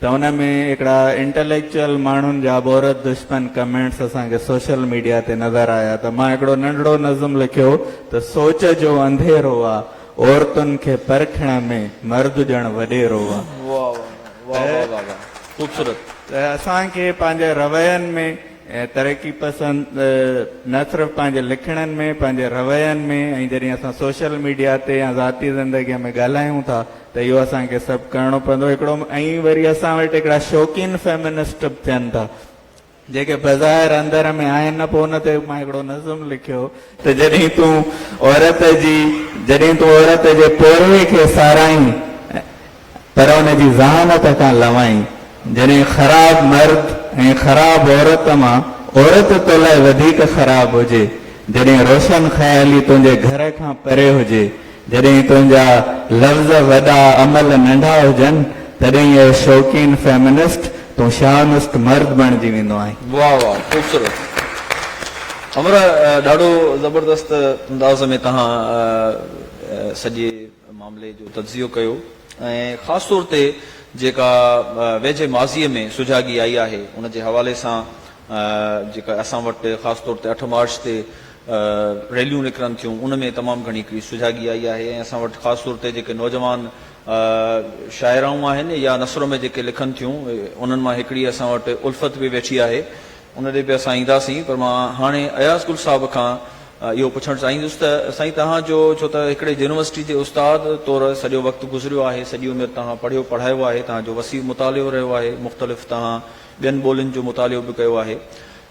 ته ان ۾ هڪڙا انٽليڪچوئل ماڻهن جا عورت دشمن ڪمينٽس اسان کي سوشل ميڊيا تي نظر آيا ته مان هڪڙو ننڍڙو نظم لکيو ته سوچ جو انڌيرو آ عورتن کي پرکڻ ۾ مرد ڄڻ وڏيرو آ ته اسان کي پنهنجي روين ۾ ترقي پسند نه صرف پنهنجي لکڻين ۾ پنهنجي روين ۾ ۽ جڏهن اسان سوشل ميڊيا تي يا ذاتي زندگي ۾ ڳالهايون ٿا ته اهو اسان کي سڀ ڪرڻو پوندو هڪڙو ۽ وري اسان وٽ هڪڙا شوقين فيمنسٽ به ٿين ٿا جيڪي بظاهر اندر ۾ آهن نه پوء ان تي مان هڪڙو نظم لکيو ته جڏهن تون عورت جي جڏهن تون عورت جي پورهيي کي ساراهين پر ان جي ذهانت کان لوائين جڏهن خراب مرد ۽ خراب عورت مان عورت تو لاء وڌيڪ خراب هجي جڏهن روشن خيالي تنهنجي گهر کان پري هجي جڏهن تنهنجا لفظ وڏا عمل ننڍا هجن تڏهن اي شوقين فيمنسٽ تون شاونسٽ مرد بڻجي ويندو آهين. واھ واھ خوبصورت همراھ ڏاڍو زبردست انداز ۾ تهان سڄي معاملي جو تجزيو ڪيو ۽ خاص طور تي جيڪا ويجهي ماضي ۾ سجاڳي آئي آهي ان جي حوالي سان جيڪا اسان وٽ خاص طور تي اٺ مارچ تي ريليون نڪرن ٿيون ان ۾ تمام گهڻي هڪڙي سجاڳي آئي آهي ۽ اسان وٽ خاص طور تي جيڪي نوجوان شاعرائون آهن يا نثر ۾ جيڪي لکن ٿيون انهن مان هڪڙي اسان وٽ الفت به ويٺي آهي ان ڏي به اسان اينداسين پر مان هاڻي اياز گل صاحب کان اهو پڇڻ چاهيندس ته سائين توهان جو ڇو ته هڪڙي يونيورسٽي جي استاد طور سڄو وقت گذريو آهي سڄي عمر توهان پڙهيو پڙهايو آهي توهان جو وسيع مطالعو رهيو آهي مختلف توهان ٻين ٻولين جو مطالعو به ڪيو آهي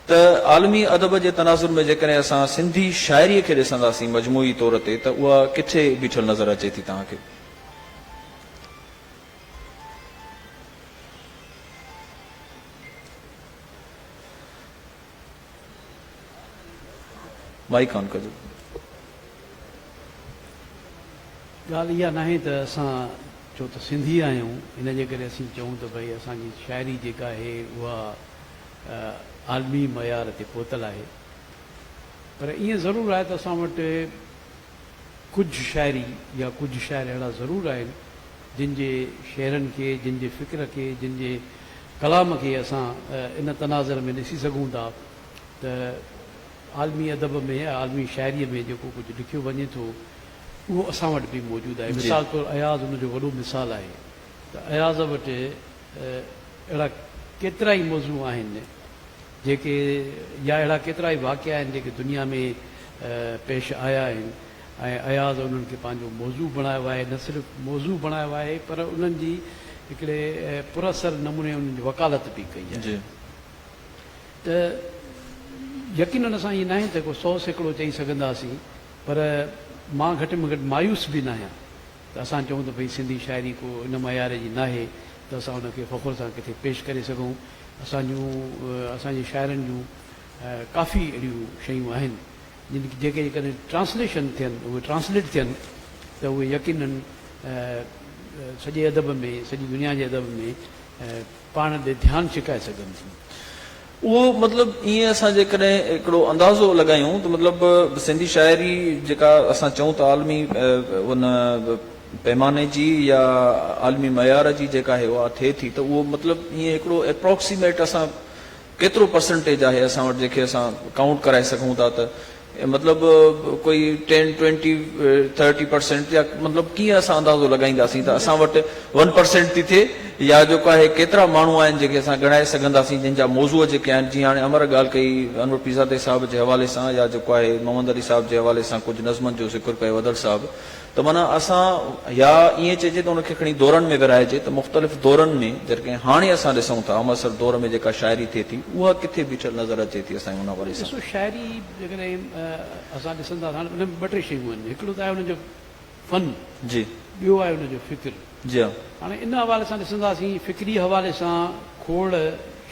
ته عالمي ادب جي تناظر ۾ جيڪڏهن اسان سنڌي شاعريء کي ڏسنداسين مجموعي طور تي ته اها ڪٿي بيٺل نظر اچي ٿي توهان کي؟ مائيڪ آن ڪجو. ڳالهه اها ناهي ته اسان ڇو ته سنڌي آهيون ان جي ڪري اسين چئون ته ڀئي اسان جي شاعري جيڪا آهي اها عالمي معيار تي پهتل آهي پر ائين ضرور آهي ته اسان وٽ ڪجهه شاعري يا ڪجهه شاعر اهڙا ضرور آهن جن جي شعرن کي جن جي فڪر کي جن جي ڪلام کي اسان ان تناظر ۾ ڏسي سگهون ٿا ته عالمي ادب ۾ يا عالمي شاعري ۾ جيڪو ڪجهه لکيو وڃي ٿو اهو اسان وٽ به موجود آهي مثال طور اياز ان جو وڏو مثال آهي ته اياز وٽ اهڙا ڪيترائي موضوع آهن جيڪي يا اهڙا ڪيترائي واقعا آهن جيڪي دنيا ۾ پيش آيا آهن ۽ اياز انهن کي پنهنجو موضوع بڻايو آهي نه صرف موضوع بڻايو آهي پر انهن جي هڪڙي پر اثر نموني انهن جي وڪالت به ڪئي آهي ته يقينن اسان ائين ناهي ته ڪو سئو سيڪڙو چئي سگهنداسين پر مان گهٽ ۾ گهٽ مايوس به ناهيان ته اسان چئون ته ڀئي سنڌي شاعري ڪو ان معيار جي ناهي ته اسان ان کي فخر سان ڪٿي پيش ڪري سگهون. اسان جون اسان جي شاعرن جون ڪافي اهڙيون شيون آهن جن جيڪي جيڪڏهن ٽرانسليشن ٿين اهي ٽرانسليٽ ٿين ته اهي يقينن سڄي ادب ۾ سڄي دنيا جي ادب ۾ پاڻ ڏي ڌيان ڇڪائي سگهن ٿيون. اهو مطلب ائين اسان جيڪڏهن هڪڙو اندازو لڳايون ته مطلب سنڌي شاعري جيڪا اسان چئون ته عالمي ان پيماني جي يا عالمي معيار جي جيڪا هي اها ٿئي ٿي ته اهو مطلب ائين هڪڙو اپراڪسيميٽ اسان ڪيترو پرسنٽيج آهي اسان وٽ جنهن کي اسان ڪائونٽ ڪرائي سگهون ٿا ته مطلب ڪوئي ٽين ٽوئنٽي ٿرٽي پرسنٽ يا مطلب ڪيئن اسان اندازو لڳائينداسين ته اسان وٽ ون پرسنٽ ٿي ٿئي يا جيڪو آهي ڪيترا ماڻهو آهن جنهن کي اسان ڳڻائي سگهنداسين جن جا موضوع جيڪي آهن جيئن هاڻي امر ڳالهه ڪئي انور پيرزادي صاحب جي حوالي سان يا جيڪو آهي محمد علي صاحب جي حوالي سان ڪجهه نظمن جو ذڪر ڪيو اڌڙ صاحب ته معنيٰ اسان يا ائين چئجي ته ان کي کڻي دورن ۾ ورهائجي ته مختلف دورن ۾ جڏهن هاڻي اسان ڏسون ٿا همعصر دور ۾ جيڪا شاعري ٿئي ٿي اها ڪٿي بيٺل نظر اچي ٿي اسان جي ان حوالي سان؟ ڏسو شاعري جيڪڏهن اسان ڏسندا ٿا ان ۾ ٻه ٽي شيون آهن هڪڙو ته آهي ان جو فن ٻيو آهي ان جو فڪر. جيان. هاڻي ان حوالي سان ڏسنداسين، فڪري حوالي سان کوڙ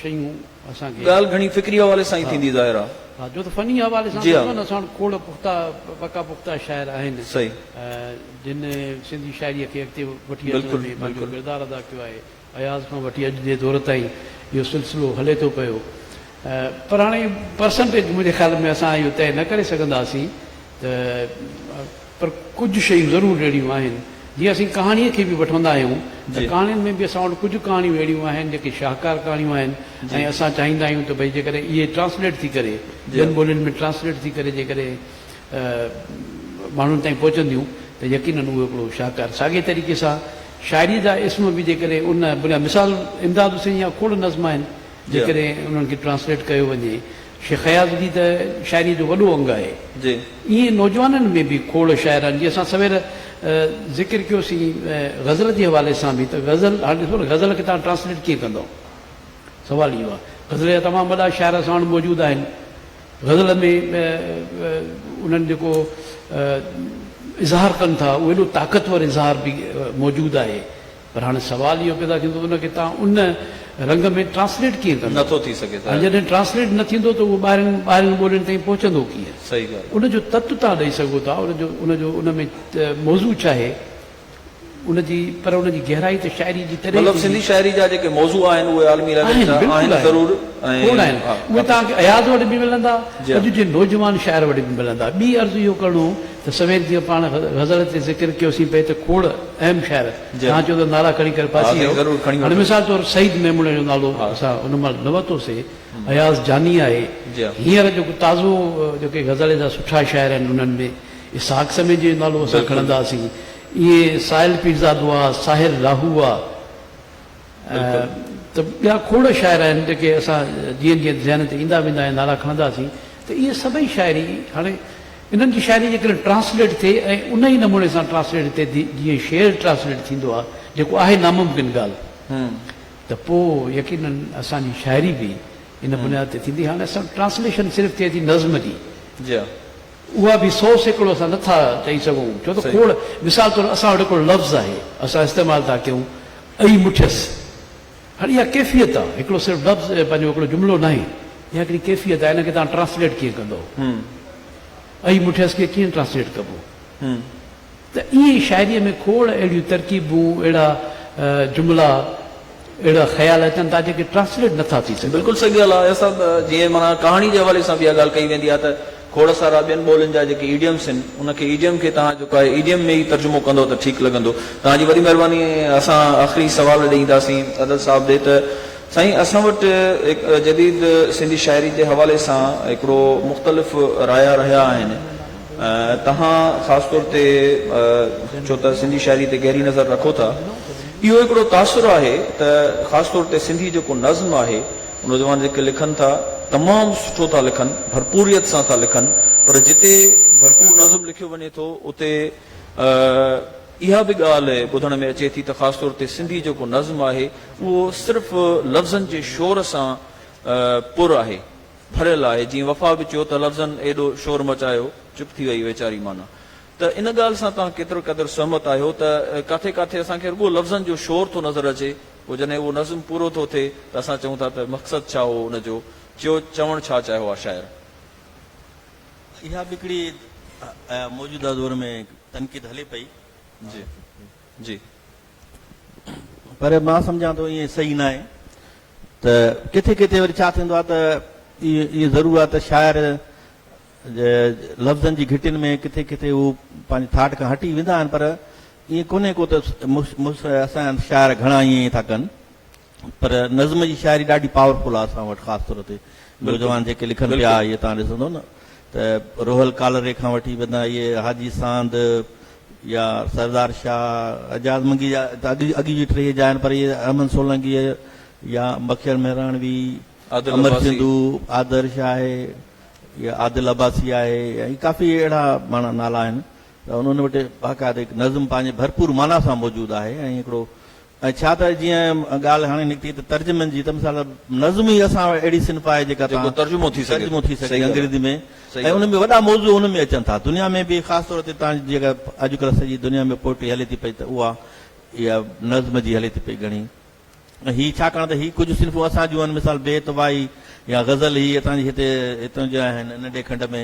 شيون اسان کي. ڳالهه گهڻي فڪري حوالي سان ئي ٿيندي ظاهر آ. ها جو ته فني حوالي سان ڏسون ها نه اسان وٽ کوڙ پختا پڪا پختا شاعر آهن جن سنڌي شاعريء کي اڳتي وٺي اچڻ ۾ پنهنجو ڪردار ادا ڪيو آهي اياز کان وٺي اڄ جي دور تائين اهو سلسلو هلي ٿو پيو پر هاڻي پرسنٽيج منهنجي خيال ۾ اسان اهو طئي نه ڪري سگهنداسين ته پر ڪجهه شيون ضرور اهڙيون آهن، جيئن اسين ڪهاڻيء کي به وٺندا آهيون ته ڪهاڻين ۾ به اسان وٽ ڪجهه ڪهاڻيون اهڙيون آهن جيڪي شاهڪار ڪهاڻيون آهن ۽ اسان چاهيندا آهيون ته ڀئي جيڪڏهن اهي ٽرانسليٽ ٿي ڪري ٻين ٻولين ۾ ٽرانسليٽ ٿي ڪري جيڪڏهن ماڻهن تائين پهچنديون ته يقينن اهو هڪڙو شاهڪار ساڳئي طريقي سان شاعريء جا اسم به جيڪڏهن ان بنياد مثال امداد حسين جا کوڙ نظم آهن جيڪڏهن انهن کي ٽرانسليٽ ڪيو وڃي شيخ اياز جي ته شاعريء جو وڏو انگ آهي. ائين نوجوانن ۾ به کوڙ شاعر آهن، جيئن اسان سوير ذڪر ڪيو سين غزل جي حوالي سان به ته غزل هاڻ ڏسو نه غزل کي توهان ٽرانسليٽ ڪيئن ڪندؤ؟ سوال اهو آهي. غزل جا تمام وڏا شاعر اسان وٽ موجود آهن. غزل ۾ انهن جيڪو اظهار ڪن ٿا اهو ايڏو طاقتور اظهار به موجود آهي پر هاڻي سوال اهو پيدا ٿيندو ته ان کي توهان ان رنگ ۾ ٽرانسليٽ ڪيئن ڪندو؟ نه ٿو ٿي سگهي ته. ۽ جڏهن ٽرانسليٽ نه ٿيندو ته اهو ٻاهرين ٻاهرين ٻولين تائين پهچندو ڪيئن؟ صحيح ڳالهه. ان جو تت توهان ڏئي سگهو ٿا، ان جو ان جو ان ۾ موضوع ڇا آهي؟ ان جي پر ان جي گهرائي ته شاعري جي تڏهن ئي مطلب ٿيندي. سنڌي شاعري جا جيڪي موضوع آهن اهي عالمي ليول آهن، جا بلڪل آهن آهن. ضرور کوڙ ۽ آهن. اهي توهان کي اياز وٽ به ملندا، جي ها. اڄ جي نوجوان شاعر وٽ به ملندا. ٻي عرض اهو ڪرڻو. ته سوير جيئن پاڻ غزل تي ذڪر ڪيوسين پئي ته کوڙ اهم شاعر توهان چئو ته نعرا کڻي ڪري ڦاسي ويو هاڻي مثال طور سعيد ميمڻي جو نالو اسان ان مهل نه ورتو سي اياز جاني آهي هينئر جيڪو تازو جيڪي غزل جا سٺا شاعر آهن انهن ۾ اسحاق سمي جو نالو اسان کڻنداسين ائين سائل پيرزادو آ ساحر راهو آ. ته ٻيا کوڙ شاعر آهن جيڪي اسان جيئن جيئن ذهن تي ايندا ويندا ۽ نالا کڻنداسين ته اهي سڀئي شاعري هاڻي انهن جي شاعري جيڪڏهن ٽرانسليٽ ٿئي ۽ ان ئي نموني سان ٽرانسليٽ ٿئي جيئن شعر ٽرانسليٽ ٿيندو آهي جيڪو آهي ناممڪن ڳالهه ته پوء يقيناً اسان جي شاعري به ان بنياد تي ٿيندي هاڻي اسان وٽ ٽرانسليشن صرف ٿئي ٿي نظم جي. اها به سو سيڪڙو اسان نه ٿا چئي سگهون ڇو ته کوڙ مثال طور اسان وٽ هڪڙو لفظ آهي اسان استعمال ٿا ڪيون ائي مٺيس هاڻي اها ڪيفيت آهي هڪڙو صرف لفظ پنهنجو هڪڙو جملو ناهي اها هڪڙي ڪيفيت آهي ان کي توهان ٽرانسليٽ ڪيئن ڪندو ائي مٺيس کي ڪيئن ٽرانسليٽ ڪبو. ته ائين ئي شاعريء ۾ کوڙ اهڙيون ترڪيبون، اهڙا جملا، اهڙا خيال اچن ٿا جيڪي ٽرانسليٽ نه ٿا ٿي سگهن. بلڪل صحيح ڳالهه آهي صاحب، جيئن معنيٰ ڪهاڻي جي حوالي سان به اها ڳالهه ڪئي ويندي آهي ته کوڙ سارا ٻين ٻولين جا جيڪي ايڊيمس آهن ان کي ايڊيم کي توهان جيڪو آهي ايڊيم ۾ ئي ترجمو ڪندو ته ٺيڪ لڳندو. توهان جي وڏي مهرباني ۽ اسان آخري سوال ڏي اينداسين عدل صاحب ڏي ته سائين اسان وٽ هڪ جديد سنڌي شاعري جي حوالي سان هڪڙو مختلف رايا رهيا آهن، توهان خاص طور تي ڇو ته سنڌي شاعري تي گهري نظر رکو ٿا اهو هڪڙو تاثر آهي ته خاص طور تي سنڌي جيڪو نظم آهي نوجوان جيڪي لکن ٿا تمام سٺو ٿا لکن ڀرپوريت سان ٿا لکن پر جتي ڀرپور نظم لکيو وڃي ٿو اتي اها به ڳالهه ٻڌڻ ۾ اچي ٿي ته خاص طور تي سنڌي جيڪو نظم آهي اهو صرف لفظن جي شور سان پر آهي ڀريل آهي جيئن وفا به چيو ته لفظن ايڏو شور مچايو چپ ٿي وئي ويچاري معنيٰ ته ان ڳالهه سان توهان ڪيترو قدر سهمت آهيو ته ڪاٿي ڪاٿي اسان کي رڳو لفظن جو شور ٿو نظر اچي پوء جڏهن اهو نظم پورو ٿو ٿئي ته اسان چئون ٿا ته مقصد ڇا هو ان جو چيو چوڻ ڇا چاهيو آهي شاعر اها به هڪڙي موجوده دور ۾ تنقيد هلي پئي. جي پر مان سمجهان ٿو ائين صحيح ناهي ته ڪٿي ڪٿي وري ڇا ٿيندو آهي ته اهو ضرور آهي ته شاعر لفظن جي گهٽين ۾ ڪٿي ڪٿي هو پنهنجي ٿاٽ کان هٽي ويندا آهن پر ائين ڪونهي ڪو ته اسان جا شاعر گهڻا ائين ٿا ڪن پر نظم جي شاعري ڏاڍي پاور فل آ اسان وٽ خاص طور تي نوجوان جيڪي لکن پيا اهي توهان ڏسندو نه ته روحل ڪالري کان وٺي بندا اهي حاجي ساند يا سردار شاهه اعجاز منگي جا اڳي جي ٽيهي جا آهن پر اهي احمد سولنگي يا مکير مهراڻوي امر سنڌو آدرش آهي يا عادل عباسي آهي يا هي ڪافي اهڙا ماڻا نالا آهن ته انهن وٽ باقاعده نظم پنهنجي ڀرپور معنيٰ سان موجود آهي ۽ هڪڙو ۽ ڇا ته جيئن ڳالهه هاڻي نڪتي ته ترجمن جي ته مثال نظم ئي اسان وٽ اهڙي صنف آهي جيڪا تان ترجمو ٿي سگهي انگريزي ۾ ۽ ان ۾ وڏا موضوع ان ۾ اچن ٿا دنيا ۾ به خاص طور تي تان جيڪا اڄ ڪلهه سڄي دنيا ۾ پوئٽري هلي ٿي پئي ته اها اها نظم جي هلي ٿي پئي گهڻي ۽ هي ڇاڪاڻ ته هي ڪجهه صنفون اسان جون آهن مثال بيت وائي يا غزل هي اتان جي هتي هتان جا آهن ننڍي کنڊ ۾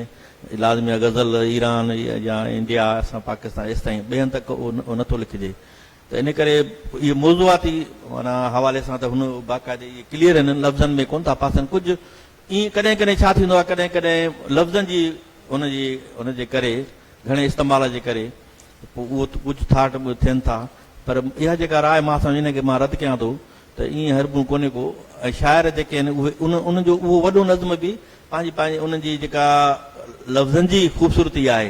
لازمي آهي غزل ايران يا انڊيا اسان پاڪستان ايستائين ٻين تڪ اهو نٿو لکجي ته ان ڪري اهي موضوعاتي معنيٰ حوالي سان ته هن باقاعدي اهي ڪليئر هنن لفظن ۾ ڪونه ٿا پاسن ڪجهه ائين ڪڏهن ڪڏهن ڇا ٿيندو آهي ڪڏهن ڪڏهن لفظن جي ان جي ان جي ڪري گهڻي استعمال جي ڪري پوء اهو ڪجهه ٿاٽ به ٿين ٿا پر اها جيڪا راء مان سمجهه ان کي مان رد ڪيان ٿو ته ائين هربون ڪونهي ڪو ۽ شاعر جيڪي آهن اهي ان ان جو اهو وڏو نظم به پنهنجي پنهنجي ان جي جيڪا لفظن جي خوبصورتي آهي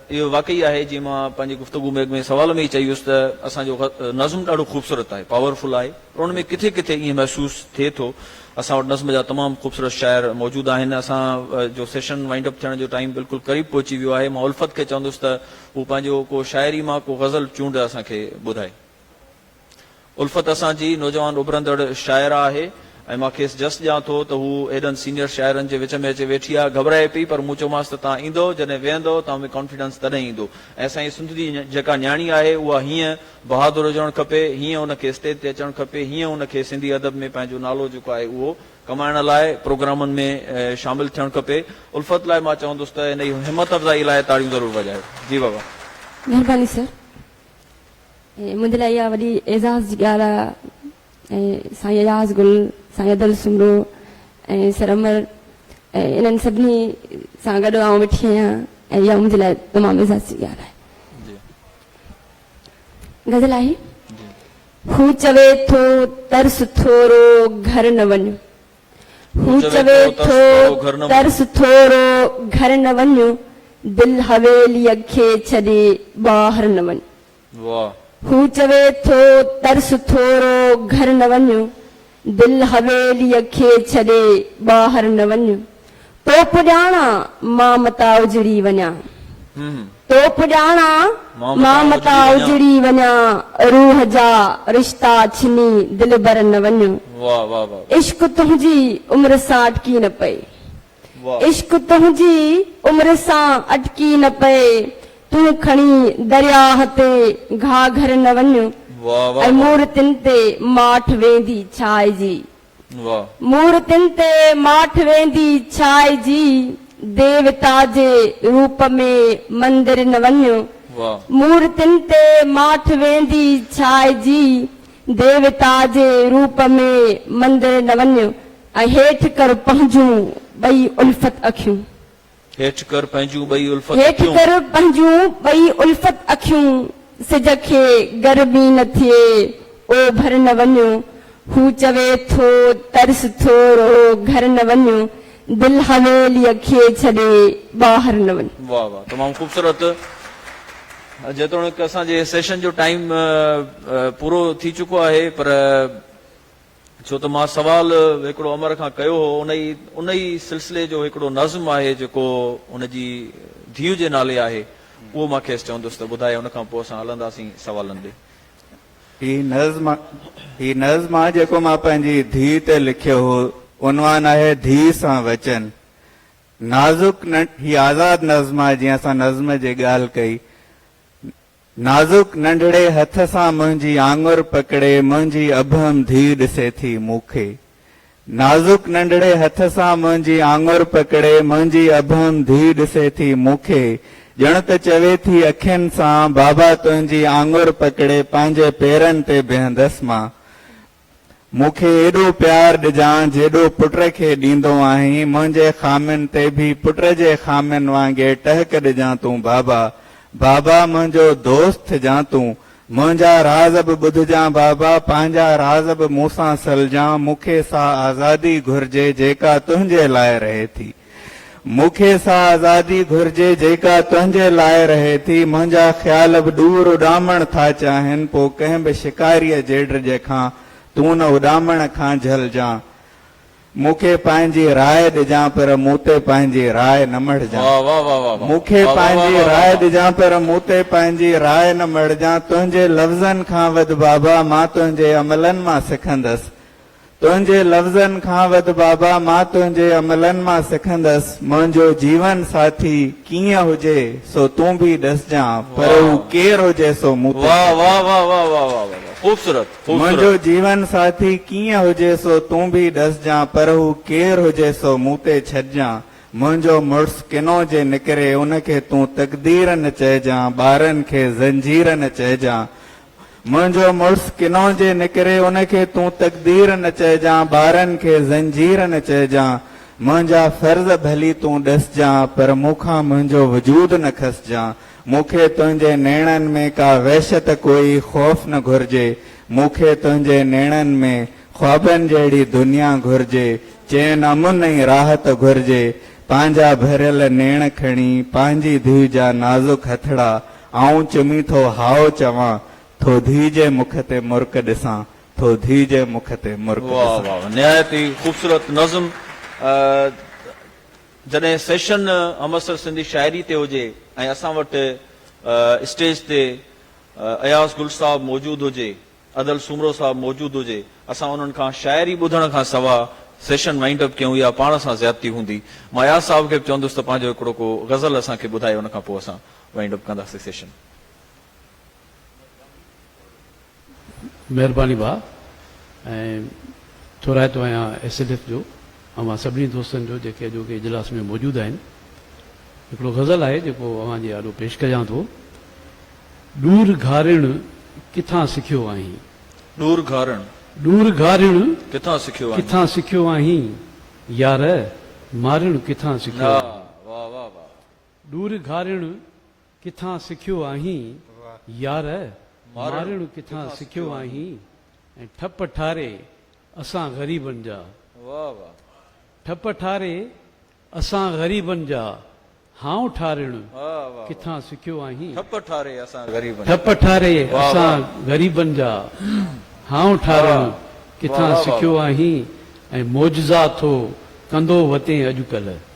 اهو واقعي آهي جيئن مان پنهنجي گفتگو ۾ اڳ ۾ سوال ۾ ئي چئي ويس ته اسان جو نظم ڏاڍو خوبصورت آهي، پاور فل آهي پر ان ۾ ڪٿي ڪٿي ائين محسوس ٿئي ٿو. اسان وٽ نظم جا تمام خوبصورت شاعر موجود آهن. اسان جو سيشن وائنڊ اپ ٿيڻ جو ٽائيم بلڪل قريب پهچي ويو آهي. مان الفت کي چوندس ته هو پنهنجو ڪو شاعري مان ڪو غزل چونڊ اسان کي ٻڌائي. الفت اسان جي نوجوان اڀرندڙ شاعره آهي ۽ مان کيس جس ڏيان ٿو ته هو ايڏن سينيئر شاعرن جي وچ ۾ اچي ويٺي آهي. گهٻرائي پئي پر مون چيومانس ته توهان ايندؤ جڏهن ويهندؤ توهان ۾ ڪانفيڊنس تڏهن ايندو ۽ اسان جي سنڌ جي جيڪا نياڻي آهي اها هيئن بهادر هجڻ کپي، هيئن ان کي اسٽيج تي اچڻ کپي، هيئن ان کي سنڌي ادب ۾ پنهنجو نالو جيڪو آهي اهو ڪمائڻ لاء پروگرامن ۾ شامل ٿيڻ کپي. الفت لاء مان چوندس ته انهي همت افزائي لاء تاڙيون ضرور وڄايو. جي بابا. مهرباني سر. منهنجي لاء اها وڏي اعزاز جي ڳالهه آهي ۽ سائين اياز گل، سائين ادل سومرو ۽ سر امر ۽ انهن سڀني سان گڏ آئون ويٺي آهيان ۽ اها منهنجي لاء تمام اعزاز جي ڳالهه آهي. غزل آهي. هو چوي ٿو ترس ٿورو گهر نه وڃ. هو چوي ٿو ترس ٿورو گهر نه وڃ دل حويليء کي ڇڏي ٻاهر نه وڃ هو چوي ٿو ترس ٿورو گهر نه وڃ دل حويليء کي ڇڏي ٻاهر نه وڃ. تو پڄاڻان مان متان اجڙي وڃان. تو پڄاڻان مان متان اجڙي وڃان. روح جا رشتا ڇني دلبر نه وڃ. عشق تنهنجي عمر سان اٽڪي نه پئي. عشق تنهنجي عمر سان اٽڪي نه پئي. تون کڻي درياهه تي گهاگهر نه وڃ. ۽ مورتين تي ماٺ ويندي ڇائجي. واه. مورتين تي ماٺ ويندي ڇائجي ديوتا جي روپ ۾ مندرين وڃ واه. مورتين تي ماٺ ويندي ڇائجي ديوتا جي روپ ۾ مندرين وڃ ۽ هيٺ ڪر پنهنجون ٻئي الفت اکيون. هيٺ ڪر پنهنجون ٻئي الفت اکيون. هيٺ ڪر پنهنجون ٻئي الفت اکيون. سج کي گرمي نه ٿئي، اوڀر نه وڃ. هو چوي ٿو، ترس ٿو رو، گهر نه وڃ. دل حويليء کي ڇڏي، ٻاهر نه وڃ. واھ واھ تمام خوبصورت جيتوڻيڪ اسان جي سيشن جو ٽائيم پورو ٿي چڪو آهي پر. ڇو ته مان سوال هڪڙو امر کان ڪيو هو، ان ئي ان ئي سلسلي جو هڪڙو نظم آهي جيڪو هن جي ڌيء جي نالي آهي، اهو مان کيس چوندس ته ٻڌائي ان کان پوء اسان هلنداسين سوالن ڏي. هي نظم هي نظم آهي جيڪو مان پنهنجي ڌيء تي لکيو هو، عنوان آهي ڌيء سان وچن. نازڪ ننڍ هي آزاد نظم آهي جيئن اسان نظم جي ڳالهه ڪئي. نازڪ ننڍڙي هٿ سان منهنجي آڱر پڪڙي منهنجي ابهم ڌيء ڏسي ٿي مون کي. نازڪ ننڍڙي هٿ سان منهنجي آڱر پڪڙي منهنجي ابهم ڌيء ڏسي ٿي مون کي. ڄڻ ته چوي ٿي اکين سان، بابا تنهنجي آڱر پڪڙي پنهنجي پيرن تي بيهندس مان. مون کي ايڏو پيار ڏجان جيڏو پٽ کي ڏيندو آهين، منهنجي خامين تي به پٽ جي خامين وانگي ٽهڪ ڏجان تون بابا، بابا منهنجو دوست ٿجان تون، منهنجا راز به ٻڌجان بابا، پنهنجا راز به مون سان سلجان، مون کي سا آزادي گهرجي جيڪا تنهنجي لاء رهي ٿي. مون کي سا آزادي گهرجي جيڪا تنهنجي لاء رهي ٿي. منهنجا خيال به ڏور اڏامڻ ٿا چاهين. پوء ڪنهن به شڪاريء جيڊرجي کان تون نه اڏامڻ کان جهلجان. مون کي پنهنجي راء ڏجان پر مون تي پنهنجي راء نه مڙهجان. مون کي پنهنجي راء ڏجان پر مون تي پنهنجي راء نه مڙهجان. تنهنجي لفظن کان وڌ بابا مان تنهنجي عملن مان سکندس. تنهنجي لفظن کان وڌ بابا مان تنهنجي عملن مان سکندس، منهنجو جيون ساٿي ڪيئن هجي سو تون به ڏسجان پر هو ڪير هجي سو مون تي ڇڏ. منهنجو جيون ساٿي ڪيئن هجي سو تون به ڏسجان پر هو ڪير هجي سو مون تي ڇڏجان، منهنجو مڙس ڪنو جي نڪري ان کي تون تقدير نه چئجان، ٻارن کي زنجير نه چئجان، منهنجو مڙس ڪنو جي نڪري ان کي تون تقدير نه چئجان ٻارن کي زنجير نه چئجان منهنجا فرض ڀلي تون ڏسجان پر مون کان منهنجو وجود نه کسجان مون کي تنهنجي نيڻن ۾ ڪا وحشت ڪوئي خوف نه گهرجي مون کي تنهنجي نيڻن ۾ خوابن جهڙي دنيا گهرجي چين امن ۽ راحت گهرجي پنهنجا ڀريل نيڻ کڻي پنهنجي ڌيء جا نازڪ هٿڙا آئون چمي ٿو هائو چوان ٿو ڌيء جي مک تي مرڪ ڏسان ٿو ڌيء جي مک تي مرڪ واھ ڏسان. واھ نهايت ئي خوبصورت نظم جڏهن سيشن همعصر سنڌي شاعري تي هجي ۽ اسان وٽ اسٽيج تي اياز گل صاحب موجود هجي ادل سومرو صاحب موجود هجي اسان انهن کان شاعري ٻڌڻ کان سوا سيشن وائنڊ اپ ڪيون اها پاڻ سان زيادتي هوندي مان اياز صاحب کي به چوندس ته پنهنجو هڪڙو ڪو غزل اسان کي ٻڌائي ان کان پوء اسان وائنڊ اپ ڪنداسين سيشن. مهرباني ڀاء ۽ ٿورائتو آهيان ايس ايل ايف جو اوهان سڀني دوستن جو جيڪي اڄوڪي اجلاس ۾ موجود آهن هڪڙو غزل آهي جيڪو اوهان جي آڏو پيش ڪجان ٿو ڏور گهارڻ ڪٿان سکيو آهين ڏور گهارڻ ڏور گهارڻ ڪٿان سکيو آهين ڪٿان سکيو آهين يار مارڻ ڪٿان سکيو آهين. ڏور گهارڻ ڪٿان سکيو آهين يار، مارڻ ڪٿان سکيو آهين ۽ ٺپ ٺاري اسان غريبن جا، ٺپ ٺاري اسان غريبن جا، هانء ٺارڻ ڪٿان سکيو آهين، ٺپ ٺاري اسان غريبن جا، هانء ٺارڻ ڪٿان سکيو آهين ۽ معجزا ٿو ڪندو وتين اڄڪلهه.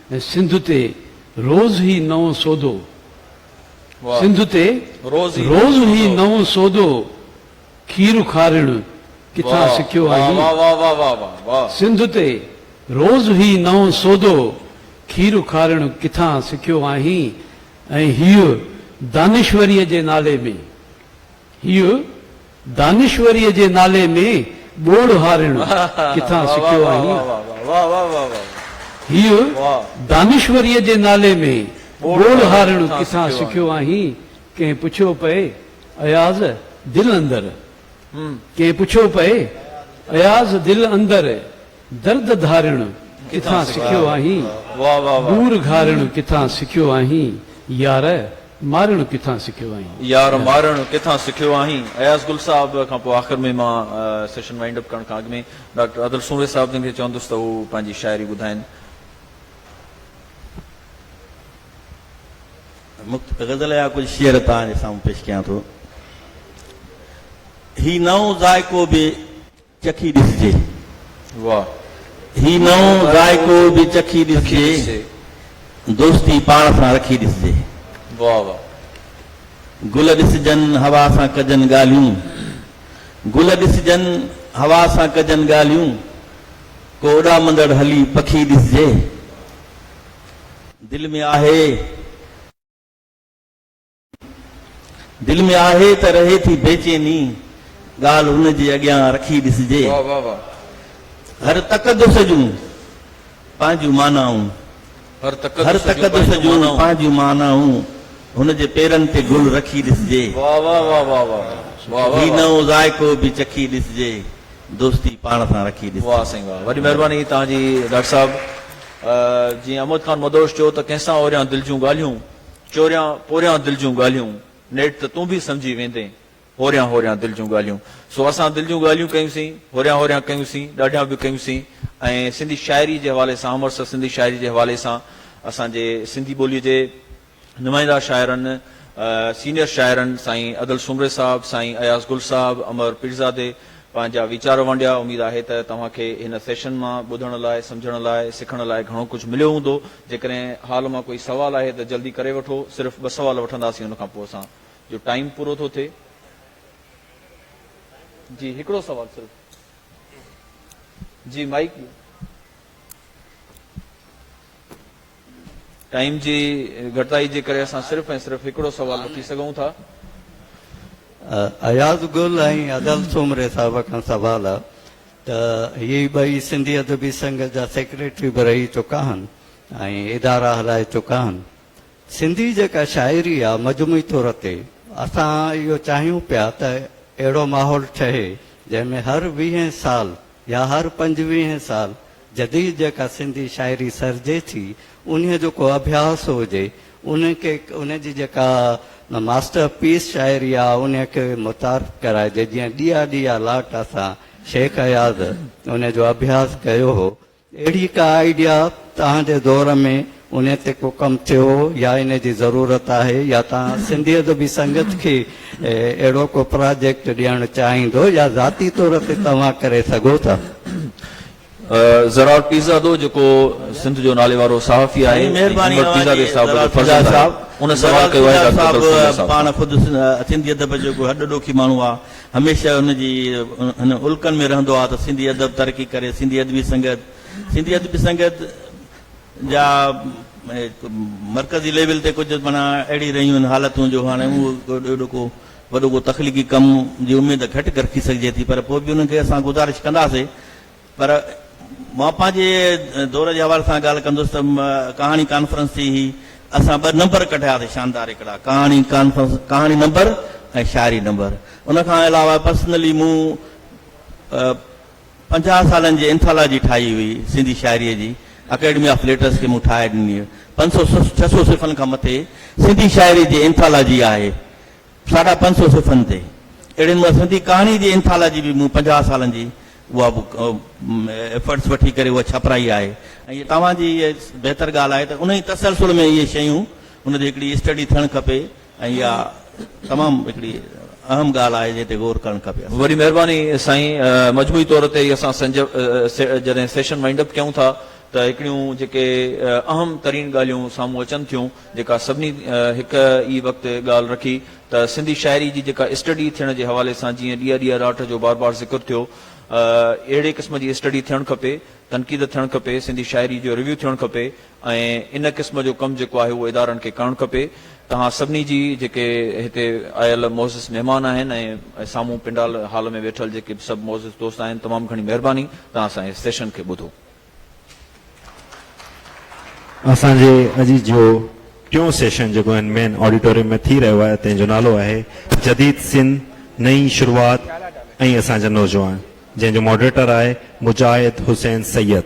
۽ سنڌ تي روز هي نئون سودو سنڌ تي روز هي نئون سودو کير کارڻ ڪٿان سکيو آهين سنڌ تي روز هي نئون سودو کير کارڻ ڪٿان سکيو آهين ۽ هيء دانشوريء جي نالي ۾. هيء دانشوريء جي نالي ۾ ٻوڙ هارڻ ڪٿان سکيو آهين؟ هيء دانشوريء جي نالي ۾ ٻوڙ هارڻ ڪٿان سکيو آهين؟ ڪنهن پڇيو پئي اياز دل اندر ڪنهن پڇيو پئي اياز دل اندر درد ڌارڻ ڪٿان سکيو آهين؟ ڏور گهارڻ ڪٿان سکيو آهين يار؟ مارڻ ڪٿان سکيو آهين؟ يار مارڻ ڪٿان سکيو آهين؟ اياز گل صاحب کان پوء آخر ۾ مان سيشن وائنڊ اپ ڪرڻ کان اڳ ۾ ڊاڪٽر ادل سومري صاحب جن کي چوندس ته هو پنهنجي شاعري ٻڌائين. مختصر غزل يا ڪجهه شعر توهان جي سامهون پيش ڪيان ٿو. هي نئون ذائقو به. چکي ڏسجي واه هي نئون ذائقو به چکي ڏسجي دوستي پاڻ سان رکي ڏسجي واه واه گل ڏسجن هوا سان ڪجن ڳالهيون گل ڏسجن هوا سان ڪجن ڳالهيون ڪو اڏامندڙ هلي پکي ڏسجي دل ۾ آهي دل ۾ آهي ته رهي ٿي بيچيني ڳالهه هن جي اڳيان رکي ڏسجي. هر تقدس جون پنهنجون معنائون. هر تقدس جون پنهنجون معنائون هن جي پيرن تي گل رکي ڏسجي. هي نئون ذائقو به چکي ڏسجي دوستي پاڻ سان رکي ڏسجي. واهه سائين واهه وڏي مهرباني توهان جي ڊاڪٽر صاحب جيئن اموت خان مدهوش چيو ته ڪنهن سان اوريان دل جون ڳالهيون. چوريان پوريان دل جون ڳالهيون، نيٺ ته تون به سمجهي ويندين، هوريان هوريان دل جون ڳالهيون. سو اسان دل جون ڳالهيون ڪيونسين، هوريان هوريان ڪيونسين، ڏاڍيان به ڪيونسين ۽ سنڌي شاعري جي حوالي سان امرتسر سنڌي شاعري جي حوالي سان اسان جي سنڌي ٻوليء جي نمائنده شاعرن، سينيئر شاعرن سائين ادل سومري صاحب، سائين اياز گل صاحب، امر پيرزادي، پنهنجا ويچار ونڊيا، اميد آهي ته توهان کي هن سيشن مان ٻڌڻ لاء، سمجهڻ لاء، سکڻ لاء گهڻو ڪجهه مليو هوندو، جيڪڏهن حال مان ڪوئي سوال آهي ته جلدي ڪري وٺو، صرف ٻه سوال وٺنداسين ان کان پوء اسان جو ٽائيم پورو ٿو ٿئي. جي هڪڙو سوال صرف. جي مائيڪ ڏيو. ٽائيم جي گهٽتائي جي ڪري اسان صرف ۽ صرف هڪڙو سوال رکي سگهون ٿا. اياز گل ۽ ادل سومري صاحب کان سوال آ ته هي ٻئي سنڌي ادبي سنگهه جا سيڪريٽري به رهي چڪا آهن ۽ ادارا هلائي چڪا آهن. سنڌي جيڪا شاعري آ مجموعي طور تي اسان اهو چاهيون پيا ته اهڙو ماحول ٺهي جنهن ۾ هر ويهين سال يا هر پنجويهين سال جديد جيڪا سنڌي شاعري سرجي ٿي انهيء جو ڪو اڀياس هجي، ان کي ان جي جيڪا ماسٽر پيس شاعري آ انهيء کي متعارف ڪرائجي، جيئن ڏيئا ڏيئا لاٽ اسان شيخ اياز انهيء جو اڀياس ڪيو هو، اهڙي ڪا آئيڊيا توهان جي دور ۾ انهي تي ڪو ڪم ٿيو يا انهي جي ضرورت آهي يا توهان سنڌي ادبي سنگت کي اهڙو ڪو پراجيڪٽ ڏيڻ چاهيندو يا ذاتي طور تي توهان ڪري سگهو ٿا. زرار پيرزادو جيڪو سنڌ جو ناليوارو صحافي آهي ۽ محمد پيرزادي صاحب جو فرزند آهي ان سوال ڪيو آهي ڊاڪٽر ڪلثوم صاحب کان. پاڻ خود سنڌي ادب جو ڪو هڏ ڏوکي ماڻهو آ هميشه ان جي هن الڪن ۾ رهندو آ ته سنڌي ادب ترقي ڪري سنڌي ادبي سنگت سنڌي ادبي سنگت جا مرڪزي ليول تي ڪجهه معنيٰ اهڙي رهيون آهن حالتون جو هاڻي اهو اهڙو ڪو وڏو ڪو تخليقي ڪم جي اميد گهٽ رکي سگهجي ٿي پر پوء به انهن کي اسان گذارش ڪنداسين پر مان پنهنجي دور جي حوالي سان ڳالهه ڪندس ته ڪهاڻي ڪانفرنس ٿي هي اسان ٻه نمبر ڪڍياسي شاندار هڪڙا ڪهاڻي ڪانفرنس ڪهاڻي نمبر ۽ شاعري نمبر ان کان علاوه پرسنلي مون پنجاهه سالن جي انٿالاجي ٺاهي هئي سنڌي شاعريء جي، اڪيڊمي آف ليٽرس کي مون ٺاهي ڏني. پنج سؤ ڇهه سؤ صفحن کان مٿي سنڌي شاعريء جي انٿالاجي آهي. ساڍا پنج سؤ صفحن تي اهڙي نموني سنڌي ڪهاڻيء جي انٿالاجي به مون پنجاهه سالن جي اها به ايفرٽس وٺي ڪري اها ڇپرائي آهي ۽ توهان جي اها بهتر ڳالهه آهي ته انهيء تسلسل ۾ اهي شيون ان جي هڪڙي اسٽڊي ٿيڻ کپي. ۽ اها تمام هڪڙي اهم ڳالهه آهي جنهن تي غور ڪرڻ کپي اسان کي. وڏي مهرباني سائين مجموعي طور تي اسان جڏهن سيشن وائنڊ اپ ڪيون ٿا ته هڪڙيون جيڪي اهم ترين ڳالهيون سامهون اچن ٿيون جيڪا سڀني هڪ ئي وقت ڳالهه رکي ته سنڌي شاعري جي جيڪا اسٽڊي ٿيڻ جي حوالي سان جيئن ڏيئا ڏيئا راٽ جو بار بار ذڪر ٿيو اهڙي قسم جي اسٽڊي ٿيڻ کپي تنقيد ٿيڻ کپي سنڌي شاعري جو ريويو ٿيڻ کپي ۽ ان قسم جو ڪم جيڪو آهي اهو ادارن کي ڪرڻ کپي. توهان سڀني جي جيڪي هتي آيل معزز مهمان آهن ۽ سامهون پنڊال هال ۾ ويٺل جيڪي به سڀ معزز دوست آهن تمام گهڻي مهرباني توهان اسان جي سيشن کي ٻڌو. اسان جي اڄ جو ٽيون سيشن جيڪو هن مين آڊيٽوريم ۾ ٿي رهيو آهي تنهن جو نالو آهي جديد سنڌ نئين شروعات ۽ اسان جا نوجوان. جنهن جو ماڊريٽر آهي مجاهد حسين سيد.